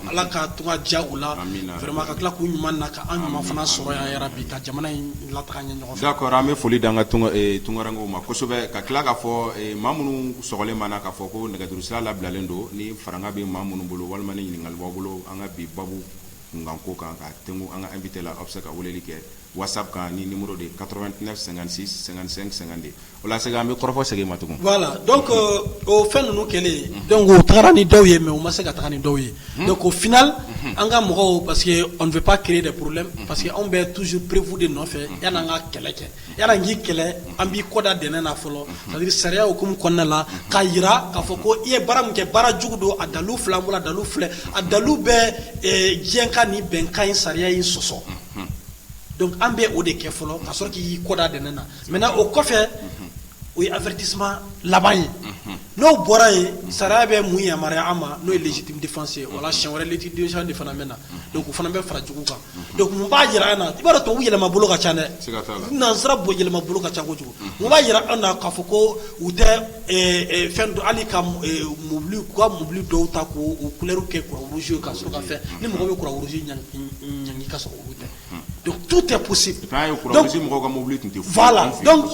ala ka tu ja u lama ka tila k'u ɲuman na ka an ɲuman fana sɔrɔ yɛrɛ bi ka jamana in la Kɔrɔ an bɛ foli dan ka tunkarakararankaww ma kosɛbɛ ka tila k kaa fɔ ma minnu sli ma na kaa fɔ ko nɛgɛjurusira labilalen don ni fara bɛ ma minnu bolo walima ɲininkaka b'a bolo an ka bi babu kunkan ko kan ka tɛmɛ an an bɛ la aw bɛ se ka weleli kɛ walasasa kan ni de ye kato tɛna sɛgɛn sɛgɛn sɛgɛnganden O la segin an bɛ kɔrɔfɔ segin ma tugun voilà donc o fɛn ninnu kɛlen donc u tagara ni dɔw ye mais u ma se ka taga ni dɔw ye donc au final an ka mɔgɔw parce que on ne veut pas créer des problèmes parce que anw bɛ toujours preuve de nɔfɛ yani an ka kɛlɛ kɛ yani an k'i kɛlɛ an b'i kɔ da dɛnɛn na fɔlɔ c'est à dire sariya hukumu kɔnɔna la k'a jira k'a fɔ ko i ye baara min kɛ baara jugu don a dalu filɛ an bolo a dalu filɛ a dalu bɛ diɲɛ ka nin bɛnkan in sariya in sɔsɔ. Donc an bɛ o de kɛ fɔlɔ ka sɔrɔ k'i kɔ da dɛnɛn na maintenant o kɔfɛ o ye avertissement laban ye n'o bɔra yen sariya bɛ mun yamaruya an ma n'o ye légitime défense ye wala siɲɛ wɛrɛ légitime défense de fana bɛ na donc o fana bɛ fara jugu kan donc u b'a jira an na i b'a dɔn tubabu yɛlɛma bolo ka ca dɛ nansara yɛlɛma bolo ka ca kojugu u b'a jira an na k'a fɔ ko u tɛ fɛn dɔn hali ka mobili dɔw ta k'u couleur kɛ Croix-Rouge ka fɛn ni mɔgɔ bɛ Croix-Rouge ɲɛ ka sɔrɔ tɛ tu tɛ mɔbili tun tɛ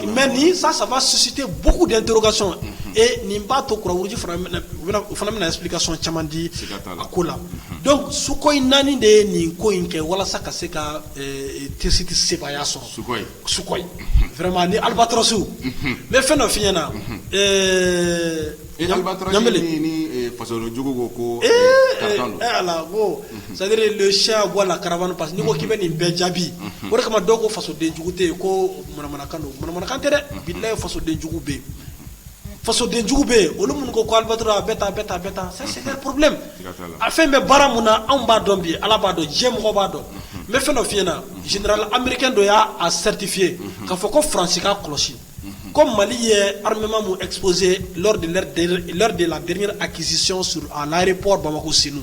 mɛ ni sa saba sisi tɛ bugu de to ka sɔn ee nin b'a to kɔrɔji fana bɛna ka sɔn caman di a ko la suko in naani de ye nin ko in kɛ walasa ka se ka tɛsi tɛ seya sɔrɔ su ni alibatorosiw ne fɛn dɔ fiɲɛyɲɛna na Fasodenjugu ko ko c'est-à-dire le chien aboie la caravane parce que ni ko k'i bɛ nin bɛɛ jaabi o de kama dɔw ko fasodenjugu tɛ yen ko manamanakan don manamanakan tɛ dɛ bilaye fasodenjugu bɛ yen fasodenjugu bɛ yen olu minnu ko Albatros bɛ tan tan problème a fɛn bɛ baara min na anw b'a dɔn bi ala b'a dɔn diɲɛ mɔgɔ b'a dɔn n bɛ fɛn dɔ f'i ɲɛ na général américain dɔ y'a certifier k'a fɔ ko faransi k'a kɔlɔsi ko mali ye halima min epse de la g a kiisisi s a lare paul bamakɔ sinu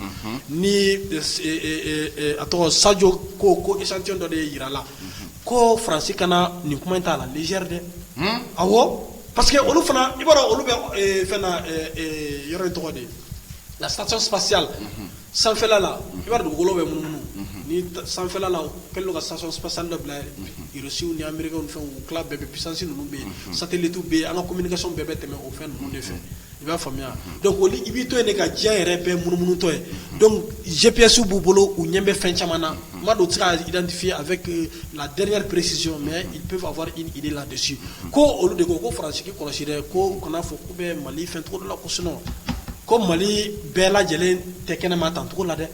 ni a tɔgɔ sajo ko ko isance dɔ de ye jirala ko faransi kana nin kuma in t'a la zri dɛ a pa que olu fana i b'a olu bɛ fɛn yɔrɔ tɔgɔ de la sacc sanfɛlala i b'a dugukolo bɛ mununu ni sanfɛlala kɛlen ka sa pa sa dɔ bilasiww ni anbri fɛn bɛɛ bɛ psasi ninnu bɛ satitu bɛ yen an kakaso bɛɛ bɛ tɛmɛ o fɛn ninnu de fɛ i b'a faamuya i b'i to yen de ka diya yɛrɛ bɛɛ munummutɔ ye jipyasiw b'u bolo u ɲɛ bɛ fɛn caman na ma don tɛ kafiye a fɛ la dre presi mɛ i bɛ fɔ a fɔ i la ko olu de ko ko farasigi kɔlɔsi ko kana fɔ U bɛ mali fɛn cogo dɔ la ko sinon ko mali bɛɛ lajɛlen tɛ kɛnɛ ma tan cogo la dɛ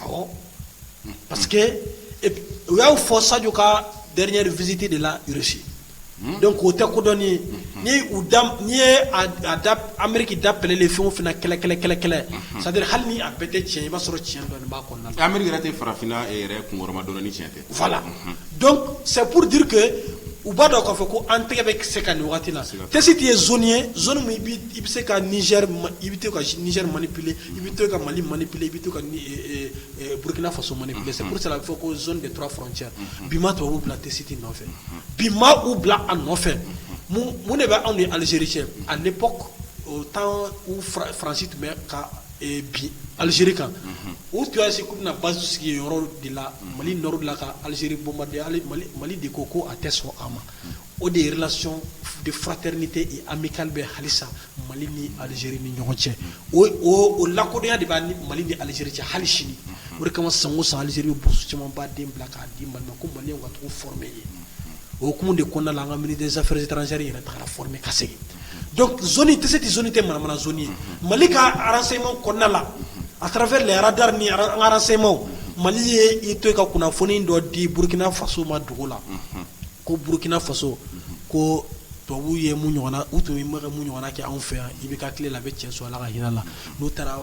awɔ parce que u y'a fɔ sajo ka dernière visite de la Russie donc o tɛ ko dɔɔnin ye n'i ye ameriki da pɛlɛlen fɛn o fɛn na kɛlɛ kɛlɛ kɛlɛ kɛlɛ c'est-à-dire hali ni a bɛɛ tɛ cɛn i b'a sɔrɔ cɛn dɔɔnin b'a kɔnɔ na ameriki yɛrɛ tɛ farafinna yɛrɛ kunma dɔn ni cɛn tɛ fa la dɔn sɛpuru duuruke u b'a dɔn k'a fɔ ko an tɛgɛ bɛ se ka nin waati na tɛsi tɛ ye z ye i bɛ se ka i bɛ to kari mali pele i bɛ to ka mali mali pele i bɛ to burukina faso mali pele se sera a bɛ fɔ ko z de tora f cɛ bi ma to bila tɛsiti nɔfɛ bi ma u bila a nɔfɛ mun de bɛ anw ni alizeri cɛ ani pan faransi tun bɛ ka bin alizeri kan u tun y'a se k'u bɛna basi sigi yɔrɔ de la mali nord de la ka alizeri bombarder mali de ko ko a tɛ sɔn a ma o de ye relation de fraternité et amicale bɛ halisa mali ni alizeri ni ɲɔgɔn cɛ o lakodɔnya de b'a ni mali ni alizeri cɛ hali sini o de kama san o san alizeri bɛ bourse camanba den bila k'a di mali ma ko maliyɛnw ka taga u former yen o hukumu de kɔnɔna la an ka ministre des affaires étrangères yɛrɛ taara former ka segin donc zone tɛsiti zone tɛ manamana zone ye mali ka renseignement kɔnɔna la à travers les radars ni an ka renseignement mali ye i to ka kunnafoni dɔ di burukina faso ma dugu la ko burukina faso ko tubabu ye mun ɲɔgɔn u tun bɛ mun ɲɔgɔn kɛ anw fɛ yan IBK tile la a bɛ tiɲɛso ala ka hinɛ a la n'u taara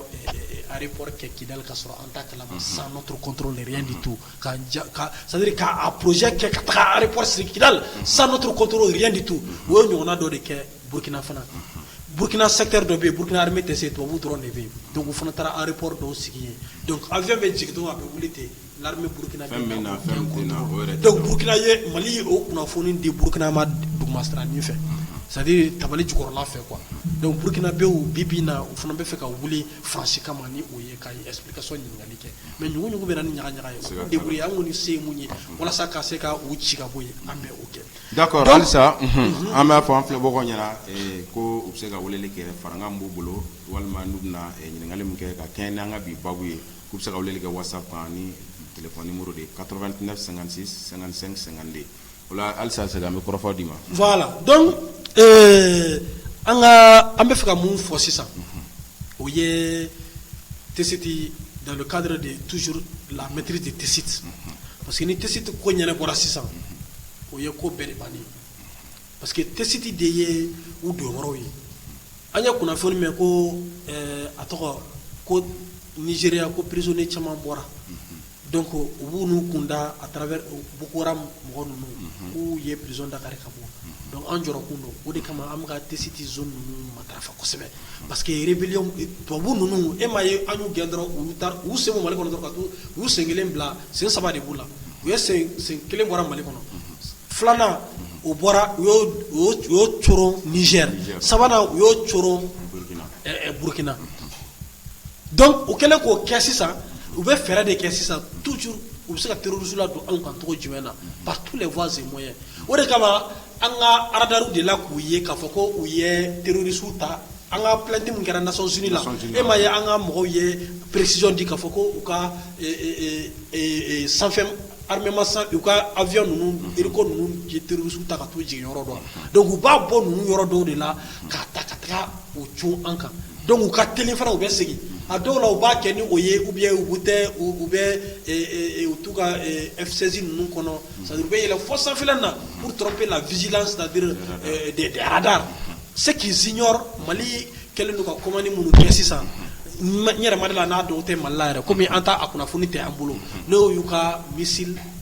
aéroport kɛ Kidal ka sɔrɔ an t'a kalama sans notre contrôle rien du tout C'est-à-dire ka projet kɛ ka taa aéroport sigi Kidal sans notre contrôle rien du tout o ye ɲɔgɔnna dɔ de kɛ burukina fana burukina secteur dɔ bɛ yen burukina armée tɛ se tubabu dɔrɔn de bɛ yen donc u fana taara aéroport dɔw sigi yen donc avion bɛ jigin dɔrɔn a bɛ wuli ten l'armée burukina burukina ye mali ye o kunnafoni di burukina ma dugumasiranin fɛ c'est-à-dire tabali jukɔrɔla fɛ quoi donc burukinabɛw bi bi in na u fana bɛ fɛ ka wuli faransi kama ni o ye ka explication ɲininkali kɛ mɛ ɲuguugu bɛ ni ɲaga ɲaga ye de ye an ni se mun ye walasa ka se ka u ci ka bɔ ye an bɛ o kɛ da halisa an b'a fɔ an fɛ bɔ ɲɛna ko u bɛ se ka wele kɛ fararankan b'u bolo walima n'u bɛna ɲininkakali min kɛ ka kɛ n'an ka bi ba ye k'u bɛ se ka wele kɛ walasasa ni tile muru de ye ka sansi san sanganden Halisa segin an bɛ kɔrɔfɔ d'i ma donc an bɛ fɛ ka mun fɔ sisan o ye tɛsiti dans le cadre de toujours la maîtrise de tɛsiti parce que ni tɛsiti ko ɲɛnabɔra sisan o ye ko bɛɛ de ban parce que tɛsiti de ye u donyɔrɔ ye an ye kunnafoni mɛn ko a tɔgɔ ko Nigeria ko prisonnier caman bɔra Donc u b'u n'u kun da à travers Boko Haram mɔgɔ ninnu k'u ye prison da kari ka bɔ donc an jɔrɔ kun don o de kama an bɛ ka tɛsiti zone ninnu matarafa kosɛbɛ parce que rébellion tubabu ninnu e m'a ye an y'u gɛn dɔrɔn u y'u ta u y'u sen bɔ mali kɔnɔ ka to u y'u sen kelen bila sen saba de b'u la u ye sen kelen bɔra mali kɔnɔ filanan o bɔra u y'o coron Niger sabanan u y'o coron burukina donc u kɛlen k'o kɛ sisan u bɛ fɛɛrɛ de kɛ sisan toujours u bɛ se ka terroriste ladon anw kan cogo jumɛn na par tous les voies et moyens o de kama an ka radar dela k'u ye k'a fɔ ko u ye terroriste ta an ka plainte min kɛra Nations Unies la e m'a ye an ka mɔgɔw ye précision di k'a fɔ ko u ka sanfɛ armement u ka avion ninnu hélico ninnu ye terroriste ta ka t'u jigin yɔrɔ dɔ donc u b'a bɔ ninnu yɔrɔ dɔw de la k'a ta ka taga o cun an kan donc u ka teli fana u bɛ segin a dɔw la u b'a kɛ ni o ye ou bien u b'u tɛ u bɛ u to u ka F16 ninnu kɔnɔ c'est-à-dire u bɛ yɛlɛ fɔ sanfin na pour tromper la vigilance c'est-à-dire des radars ce qui est sûr mali kɛlen don ka commande minnu kɛ sisan n yɛrɛ ma da a la n'a dɔw tɛ mali la yɛrɛ kɔmi an taa a kunnafoni tɛ an bolo n'o y'u ka missile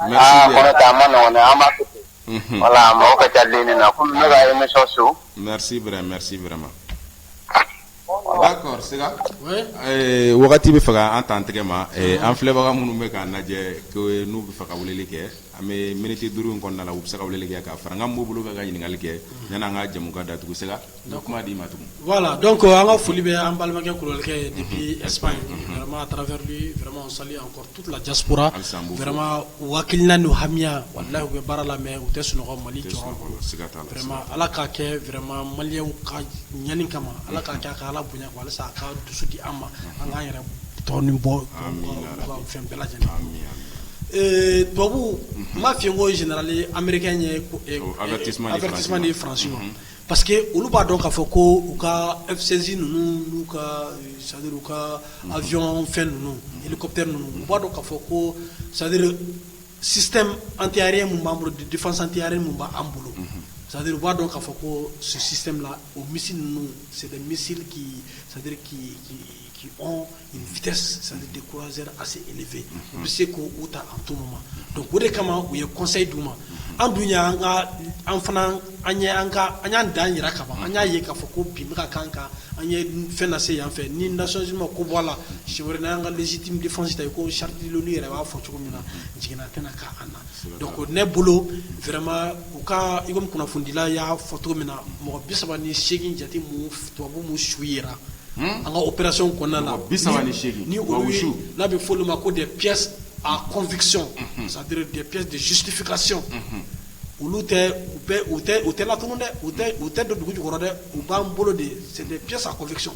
Aa kɔrɔ tɛ a man nɔgɔn dɛ an b'a to ten, unhun, voila mɔgɔ ka ca ligne na komi ne ka emission su, merci vraiment merci vraiment d'accord Sega, oui, ɛɛ wagati bɛ fɛ k'an ta an tɛgɛ ma, ɛɛ an filɛbaga minnu bɛ k'an lajɛ ko n'u bɛ fɛ ka weleli kɛ an bɛ minutes duuru in kɔnɔna na u bɛ se ka weleli kɛ ka fara n ka mobile kan ka ɲininkali kɛ yanni an ka jɛmukan datugu Sega Kuma d'i ma tugun wala dɔn ko an ka foli bɛ an balimakɛ kulubalikɛ ye bi esp yema taararaɛrɛma sa kɔrɔla jakurara anma waaki naani don hamiya wala u bɛ baara la mɛ u tɛ sunɔgɔ mali jɔma ala ka kɛma mali ka ɲani kama ala ka kɛ ka ala bonya wala a ka dusu di an ma an k'an yɛrɛ tɔn ni bɔ fɛn bɛɛ lajɛlen ee tubabu n ma fi ko jli anmeri ye an teti ni faransi ma Pa que olu b'a dɔn k'a fɔ ko u ka sinsin ninnu n'u ka sa u ka ayɔn fɛn ninnu ikɔte ninnu u b'a dɔn k'a fɔ ko sa an tɛre min b'an bolo defasantiyare min b'an bolo sa u b'a dɔn k'a fɔ ko susi la o misi ninnu sɛ misi k'i saduri k'i K' vte san de kuransɛ a se e fɛ u bɛ se k' u ta an to ma don o de kama u ye kɔsa di u ma an dun an ka an fana an an y'an dan jira ka an y'a ye k'a fɔ ko bi ka kan kan an ye fɛn lase se yan fɛ ni naonsi ma ko bɔ a la si wɛrɛ n' an ka siti defasi ta yen ko sati yɛrɛ b'a fɔ cogo min na jiginna tɛna' an na Don ne bolo fɛrɛma u ka i kunnafonidila y'a fɔ cogo min na mɔgɔ bi saba ni segin jate tubabubu su yɛrɛ an ka o pɛrasiw kɔnɔna na bi saba ni ni n'a bɛ fɔ ma ko de p a kɔnfisi sadurp desitifikasi olu tɛ u tɛ la tugun dɛ u tɛ don dugu jukɔrɔ dɛ u b'an bolo de sɛsa kɔfɛsɔn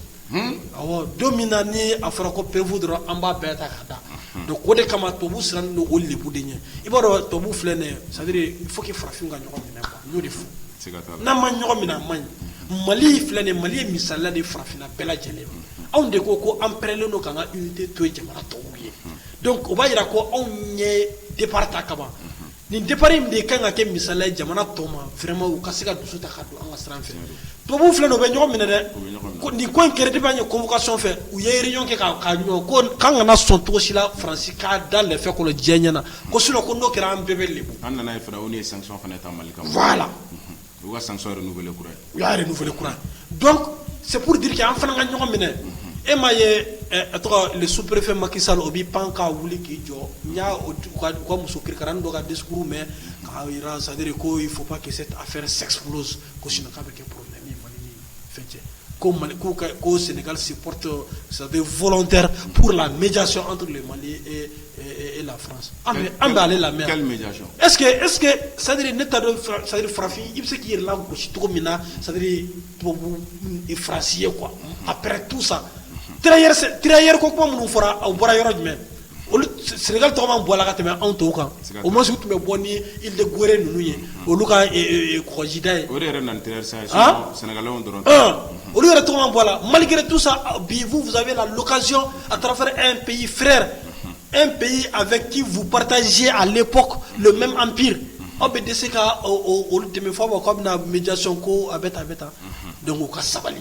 don min na ni a fɔra ko preuve dɔrɔn an b'a bɛɛ ta k'a da donc o de kama tubabu sirannen don o lebu de ɲɛ i b'a dɔn tubabu filɛ nin c'est-à-dire il faut que farafin ka ɲɔgɔn minɛ n'o de fɔ n'a ma ɲɔgɔn minɛ a man ɲi mali filɛ nin mali ye misaliya de farafinna bɛɛ lajɛlen anw de ko ko an pɛrɛlen don k'an ka unité to jamana tɔw ye donc o b'a jira ko anw ye départ ta kaban Nin départ in de ka kan ka kɛ misaliya ye jamana tɔw ma vraiment u ka se ka dusu ta ka don an ka sira fɛ, tubabuw filɛ nin ye u bɛ ɲɔgɔn minɛ dɛ, u bɛ ɲɔgɔn minɛ, nin ko in kɛra depuis an ye convocation fɛ u ye réunion kɛ k'a ɲɔgɔn ko k'an kana sɔn cogo si la France ka da lɛfɛ kɔnɔ diɲɛ ɲɛna ko sinon ko n'o kɛra an bɛɛ bɛ lebu, an nana ye fana ONU ye sanction fana ta Mali kan, voilà U ka san sɔrɔ n' kura u y'a yɛrɛ nuf kura dɔn seuru dike an fana ka ɲɔgɔn minɛ e ma ye tɔgɔ supurefɛn maki sa o bɛ pan k' wuli k'i jɔ n y'a ka muso kiri don ka di suru mɛn k'a jira saduri ko fo pa que se a fɛ sɛgɛgolo ko sunjata bɛ kɛ poro ko mali ko senkalisi porote saba fɔlɔ tɛ pur la mɛ son anto mali e la an bɛ ale lamɛn eske eske sadiri ne ta sari farafin i bɛ se k'i yɛrɛ la gosi cogo min na sari tubabu farasi ye kuwa a pɛ tu sa kira yɛrɛ ko kuma minnu fɔra a bɔra yɔrɔ jumɛn sɛnɛka tɔgɔ bɔ ka tɛmɛ anw tɔw kan o ma tun bɛ bɔ ni i gɛrɛ ninnu ye olu kajida ye sɛnɛka dɔrɔn olu yɛrɛ tɔgɔ bɔ la malikɛre tu sa bi fusa la lukasi a taara e peyi fɛrɛɛrɛ e peyi a fɛ k'i fu patazsi a lep mɛ an ppi aw bɛ de se ka olu dɛmɛ fɔ ma' bɛna mijaso ko a bɛ taa a bɛ taa don ka sabali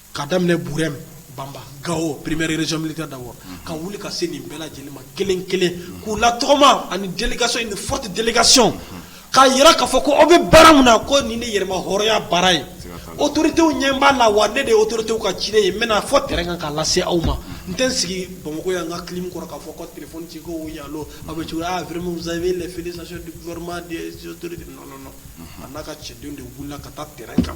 ka daminɛ bɛ banba gawo peremeerezlika da ka wuli ka se nin bɛɛ lajɛlen ma kelen kelen k'u la tɔgɔma ani delikaso in fɔti delikaso k'a jira k'a fɔ ko aw bɛ baara min na ko nin ni yɛlɛma hya baara ye o totew ɲɛ b'a la wa ne de o totew ka ci ye mɛ fɔ tɛ kan ka lase aw ma n tɛ sigi bamakɔ yan ka kelen kɔrɔ k'a fɔ ko tfci ko ya a bɛ cogoya a fsasɔnma a n'a ka cɛdenw de wili ka taa tɛ kan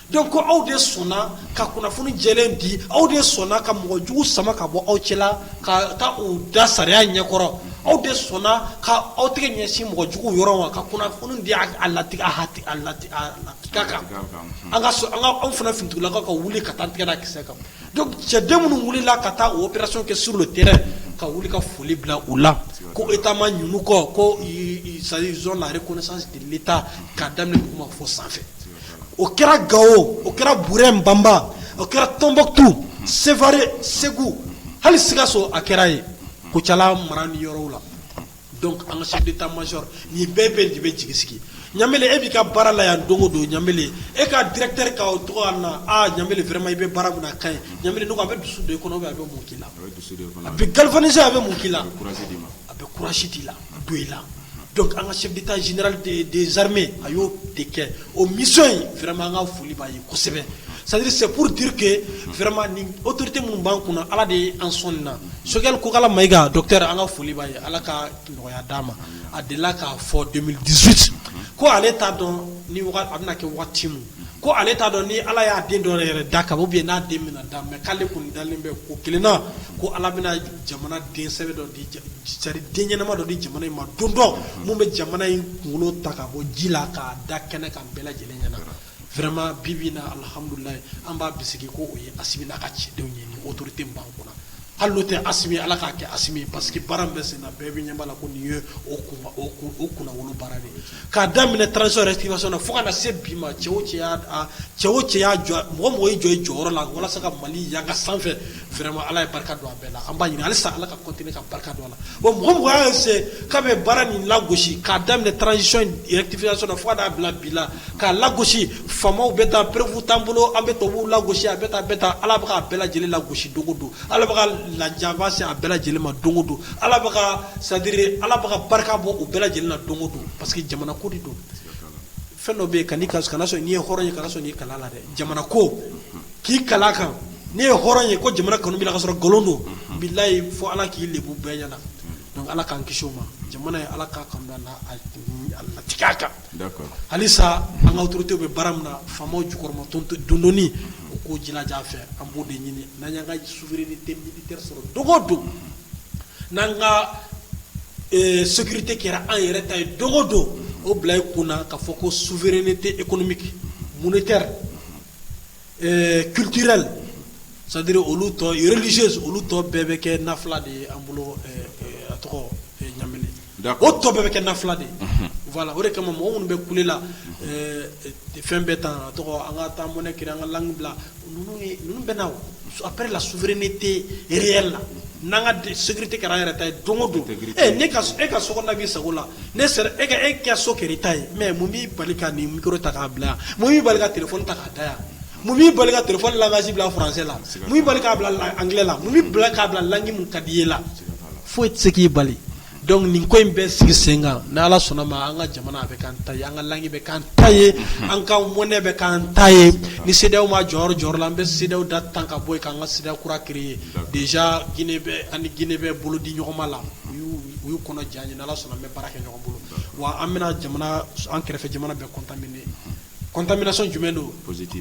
donc ko aw de sɔnna ka kunnafoni jɛlen di aw de sɔnna ka mɔgɔ jugu sama ka bɔ aw cɛ la ka taa u da sariya ɲɛkɔrɔ aw de sɔnna ka aw tɛgɛ ɲɛsin mɔgɔ jugu yɔrɔ ma ka kunnafoni di a lati- a latigɛ kan an ka anw fana finitigilakaw ka wuli ka taa tigɛ da kisɛ kan donc cɛden minnu wulila ka taa opération kɛ sur le terrain ka wuli ka foli bila u la ko état ma ɲinɛ u kɔ ko ils ont la reconnaissance de l'état k'a daminɛ duguma fɔ sanfɛ o kɛra gawo o kɛra burɛm banba o kɛra tombouctou sevare segu hali sikaso a kɛra ye kucala mara ni yɔrɔw la donc an ka chef d'état-major nin bɛɛ bɛ de bɛ jigi sigi ɲambele e b'i ka baara la yan don o don ɲambele e ka directeur ka o tɔgɔ na ɲambele vraiment i bɛ baara min na a ka ɲi ɲambele donc a bɛ dusu don i kɔnɔ a bɛ mun k'i la a bɛ galvaniser a bɛ mun k'i la a bɛ courage d'i la don i la donc an ka chef d'état général des, des armées a y'o de kɛ o mission in vraiment an ka foli b'a ye kosɛbɛ c'est à dire c'est pour dire que vraiment nin autorité minnu b'an kunna ala de ye an sɔn nin na sogɛli kokala mayiga docteur an ka foli b'a ye ala ka nɔgɔya d'a ma a delila k'a fɔ 2018 ko ale t'a dɔn ni waga- a bɛna kɛ wagati min ko ale t'a dɔn ni ala y'a den dɔ yɛrɛ da ka ou bien n'a den bɛna da mais k'ale kɔni dalen bɛ ko kelen na ko ala bɛna jamana den sɛbɛ dɔ di c'est à dire den ɲɛnama dɔ di jamana in ma don dɔ min bɛ jamana in kunkolo ta ka bɔ ji la k'a da kɛnɛ kan bɛɛ lajɛlen ɲɛna vraiment bi bi in na alihamdulilahi an b'a bisigi ko o ye asimi n'a ka cɛdenw ye ni autorité min b'an kunna hali n'o tɛ asimi ala k'a kɛ asimi parce que baara min bɛ senna bɛɛ bɛ ɲɛ b'a la ko nin ye o o kunnawolo baara de ye k'a daminɛ transition rectification na fo ka na se bi ma cɛ o cɛ y'a a cɛ o cɛ y'a jɔ mɔgɔ mɔgɔ y'i jɔ i jɔyɔrɔ la walasa ka Mali yanga sanfɛ vraiment Ala ye barika don a bɛɛ la an b'a ɲini halisa Ala ka continuer ka barika don a la bon mɔgɔ mɔgɔ y'a essayer k'a bɛ baara nin lagosi k'a daminɛ transition in rectification na fo ka n'a bila bi la k'a lagosi faamaw bɛ taa preuve t'an bolo an bɛ tubabuw lagosi a bɛ tan a bɛ tan Ala bɛ k'a bɛɛ lajɛlen lagosi don o don Ala bɛ ka lajaba se a bɛɛ lajɛlen ma don o don, Ala bɛ ka c'est à dire Ala bɛ ka barika bɔ u bɛɛ lajɛlen na don o don parce que jamana ko de don, siga t'a la, fɛn dɔ bɛ yen kan'i kali a kan, kana sɔn n'i ye hɔrɔn ye kana sɔn k'i kali a la dɛ, jamana ko, unhun, k'i kali a kan n'i ye hɔrɔn ye ko jamana kanu b'i la k'a sɔrɔ nkalon don, unhun, bilahi fo Ala k'i lebu bɛɛ ɲɛna, unhun, donc Ala k'an kisi o ma, jamana in Ala k'a kanu don a la a latigɛ a kan halisa an ka torote bɛ bara min na faw jukɔrɔma dond u ko j fɛ an b' de ɲini n'an ka su sɔrɔ dɔgɔ don n'an ka sugte kɛra an yɛrɛ ta ye dɔgɔ don o bila i kun na ka fɔ ko su feereere tɛ e kɔnɔmi mun tɛ kitirali sadiri olu tɔliz olu tɔ bɛɛ bɛ kɛ na fila de ye an bolo a tɔgɔ ɲa o tɔ bɛɛ bɛ kɛ na fila de wala o de kama mɔgɔ minnu bɛ kulela fɛn bɛ taa an ka taa mɔnɛ kira an ka bila bɛ aela sufiri ne tɛ e la n'an ka tɛ kɛra yɛrɛ ta ye don don e ka so b'i sago la ne e ka e kɛ so kɛ ta ye mɛ mun b'i bali ka nin ta k'a bila yan mun b'i bali ka t ta k'a da yan Mun b'i bali ka téléphone langage bila français la, mun b'i bali k'a bila anglais la, mun b'i bali k'a bila langue min ka d'i ye la, foyi tɛ se k'i bali donc nin ko in bɛ sigi sen kan ni Ala sɔnna a ma an ka jamana a bɛ k'an ta ye, an ka langue bɛ k'an ta ye, an ka monnaie bɛ k'an ta ye, ni CEDEAO ma jɔ yɔrɔ jɔyɔrɔ la, an bɛ CEDEAO da tan ka bɔ yen, k'an ka CEDEAO kura créer déjà Guinée bɛ an ni Guinée bɛ bolo di ɲɔgɔn ma la, u y'u u y'u kɔnɔ jɛ an ye, ni Ala sɔnna an bɛ baara kɛ ɲɔgɔn bolo wa an bɛna jamana an kɛrɛfɛ jamana bɛɛ contaminer contamination jumɛn don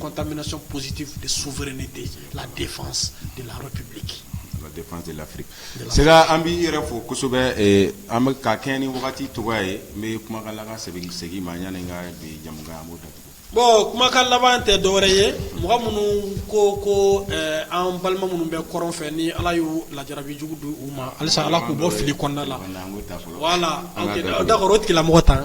contamination positive de souveraineté la défense de la République la défense de l'Afrique Sega an b'i yɛrɛ fo kosɛbɛ an bɛ ka kɛɲɛ ni wagati cogo ye n bɛ kumakan laban segin ma yanni ka bi jɛmu datugu bon kumakan laban tɛ dɔwɛrɛ ye mɔgɔ minnu ko ko an balima minnu bɛ kɔrɔn fɛ ni ala ye lajarabi jugu don u ma halisa ala k'u bɔ fili kɔnɔna la voilà d'accord tigilamɔgɔ ta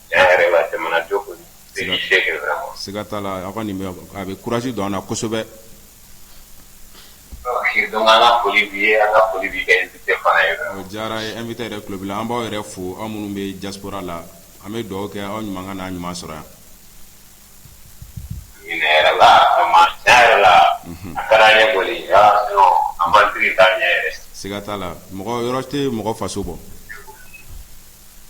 Siga t'a la a kɔni nin a bɛ courage don an na kosɛbɛ diyara invité yɛrɛ tulo b'i la an b'aw yɛrɛ fo aw minnu bɛ diaspora la an bɛ dugawu kɛ aw ɲuman ka n'an ɲuman sɔrɔ yan siga t'a la mɔgɔ yɔrɔ tɛ mɔgɔ faso bɔ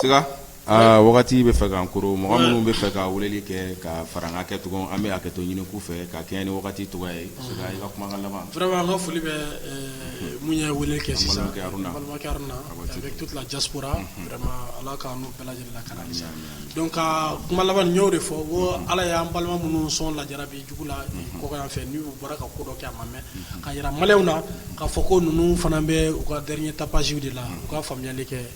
siga aa wagati bɛ fɛ k'an koron mɔgɔ minnu bɛ fɛ ka weleli kɛ ka fara an ka kɛ cogo an bɛ hakɛto ɲini k'u fɛ ka kɛɲɛ ni wagati cogoya ye siga i ka kumakan laban vraiment n ka foli bɛ minnu ye weleli kɛ sisan an balimakɛ Aruna an balimakɛ Aruna avec toute la diaspora vraiment Ala k'an n'u bɛɛ lajɛlen lakana kisi aami aami donc ka kuma laban n y'o de fɔ ko Ala y'an balima minnu sɔn lajarabi jugu la kɔkan yan fɛ n'u bɔra ka ko dɔ kɛ a ma mɛn ka jira maliyɛnw na k'a fɔ ko ninnu fana bɛ u ka dernier tapage de la accord pour la paix kɛ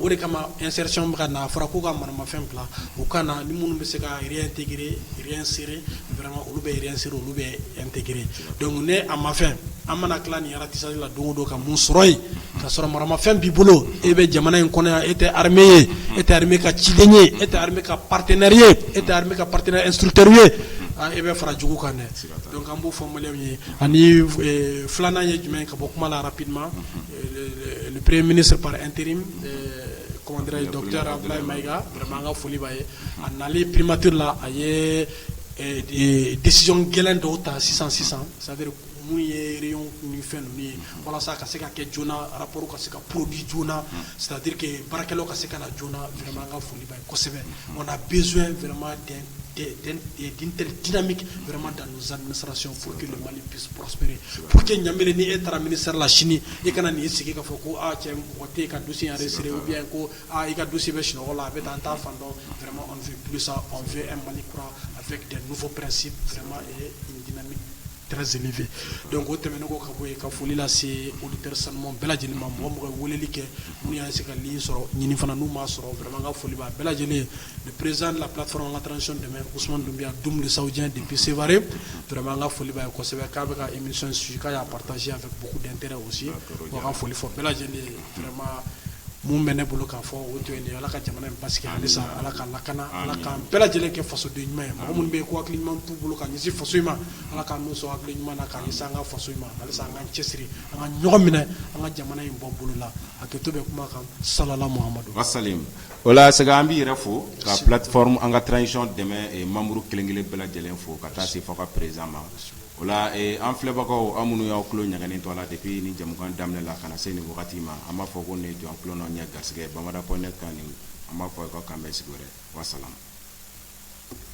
o de kama insertion bɛ ka na a fɔra k'u ka maramafɛn bila u ka na ni minnu bɛ se ka réintégrer réinsérer vraiment olu bɛ réinsérer olu bɛ intégrer donc ni a ma fɛn an mana tila nin ratissage la don o don ka mun sɔrɔ yen ka sɔrɔ maramafɛn b'i bolo e bɛ jamana in kɔnɔ yan e tɛ armée ye e tɛ armée ka ciden ye e tɛ armée ka partenaire ye e tɛ armée ka partenaire instructeur ye aa e bɛ fara jugu kan dɛ donc an b'o fɔ maliyɛnw ye ani filanan ye jumɛn ye ka bɔ kuma la rapidement pere mini saba an teri kɔnɔnte dɔ jara bila ma ikaurama an ka foli b'a ye a na perematri la a ye disi gɛlɛn dɔw ta sisan sisan sari kun ye ni fɛn ninnu ye walasa ka se ka kɛ j arapro ka se ka pdi j saraduke baarakɛlaw ka se ka joona an ka foli kosɛbɛ nka bɛma den dmikima dan sarac fo mali psp po que ɲamina ni e taara mini sarala sini e kana nin sigi ka fɔ ko cɛ mɔgɔ tɛ ka dusi yɛrɛ siri u bɛ ko i ka dusi bɛ sunɔgɔ la a bɛ taa an taa fan dɔnma sa fɛ mali kura a fɛ fɔ pɛsi fɛ don ko tɛmɛn ko ka bɔ ka foli lase olu tɛ sanu bɛɛ lajɛlen ma mɔgɔ mɔgɔ weleli kɛ n' y' se ka sɔrɔ ɲinin fana n'u ma sɔrɔ ka foli bɛɛ lajɛlen le président de la plateforme an ka transition dɛmɛ, Ousmane Doumbia Doum, le Saoudien depuis Sévaré. Vraiment, n ka foli b'a ye kosɛbɛ, k'a bɛ ka émission suivre k'a partagé avec beaucoup d'intérêt aussi. Donc, ka foli fɔ bɛɛ lajɛlen ye vraiment, mun bɛ ne bolo k'a fɔ o to yen de ala ka jamana in basigi halisa ala ka lakana ala k'an bɛɛ lajɛlen kɛ fasoden ɲuman ye mɔgɔ minnu bɛ yen ko hakili ɲuman t'u bolo ka ɲɛsin faso in ma ala k'an n'u sɔn hakili ɲuman na ka ɲɛsin an ka faso in ma halisa an k'an cɛsiri an ka ɲɔgɔn minɛ an ka jamana in bɔ bolo la hakɛto bɛ kuma kan salala muhamadu wasalim O la sɛgɛ an b'i yɛrɛ fo ka plateforme an ka transition dɛmɛ membre kelenkelen bɛɛ lajɛlen fo ka taa se fɔ ka président ma o la an filɛbagaw aw minnu y'aw tulo ɲagali to la depuis ni jɛmukan daminɛ la ka na se nin wagati ma an b'a fɔ ko nin y'aw tulo n'aw ɲɛ garisɛgɛ bamada point net kan an b'a fɔ ko k'an bɛn sigi wɛrɛ wasalam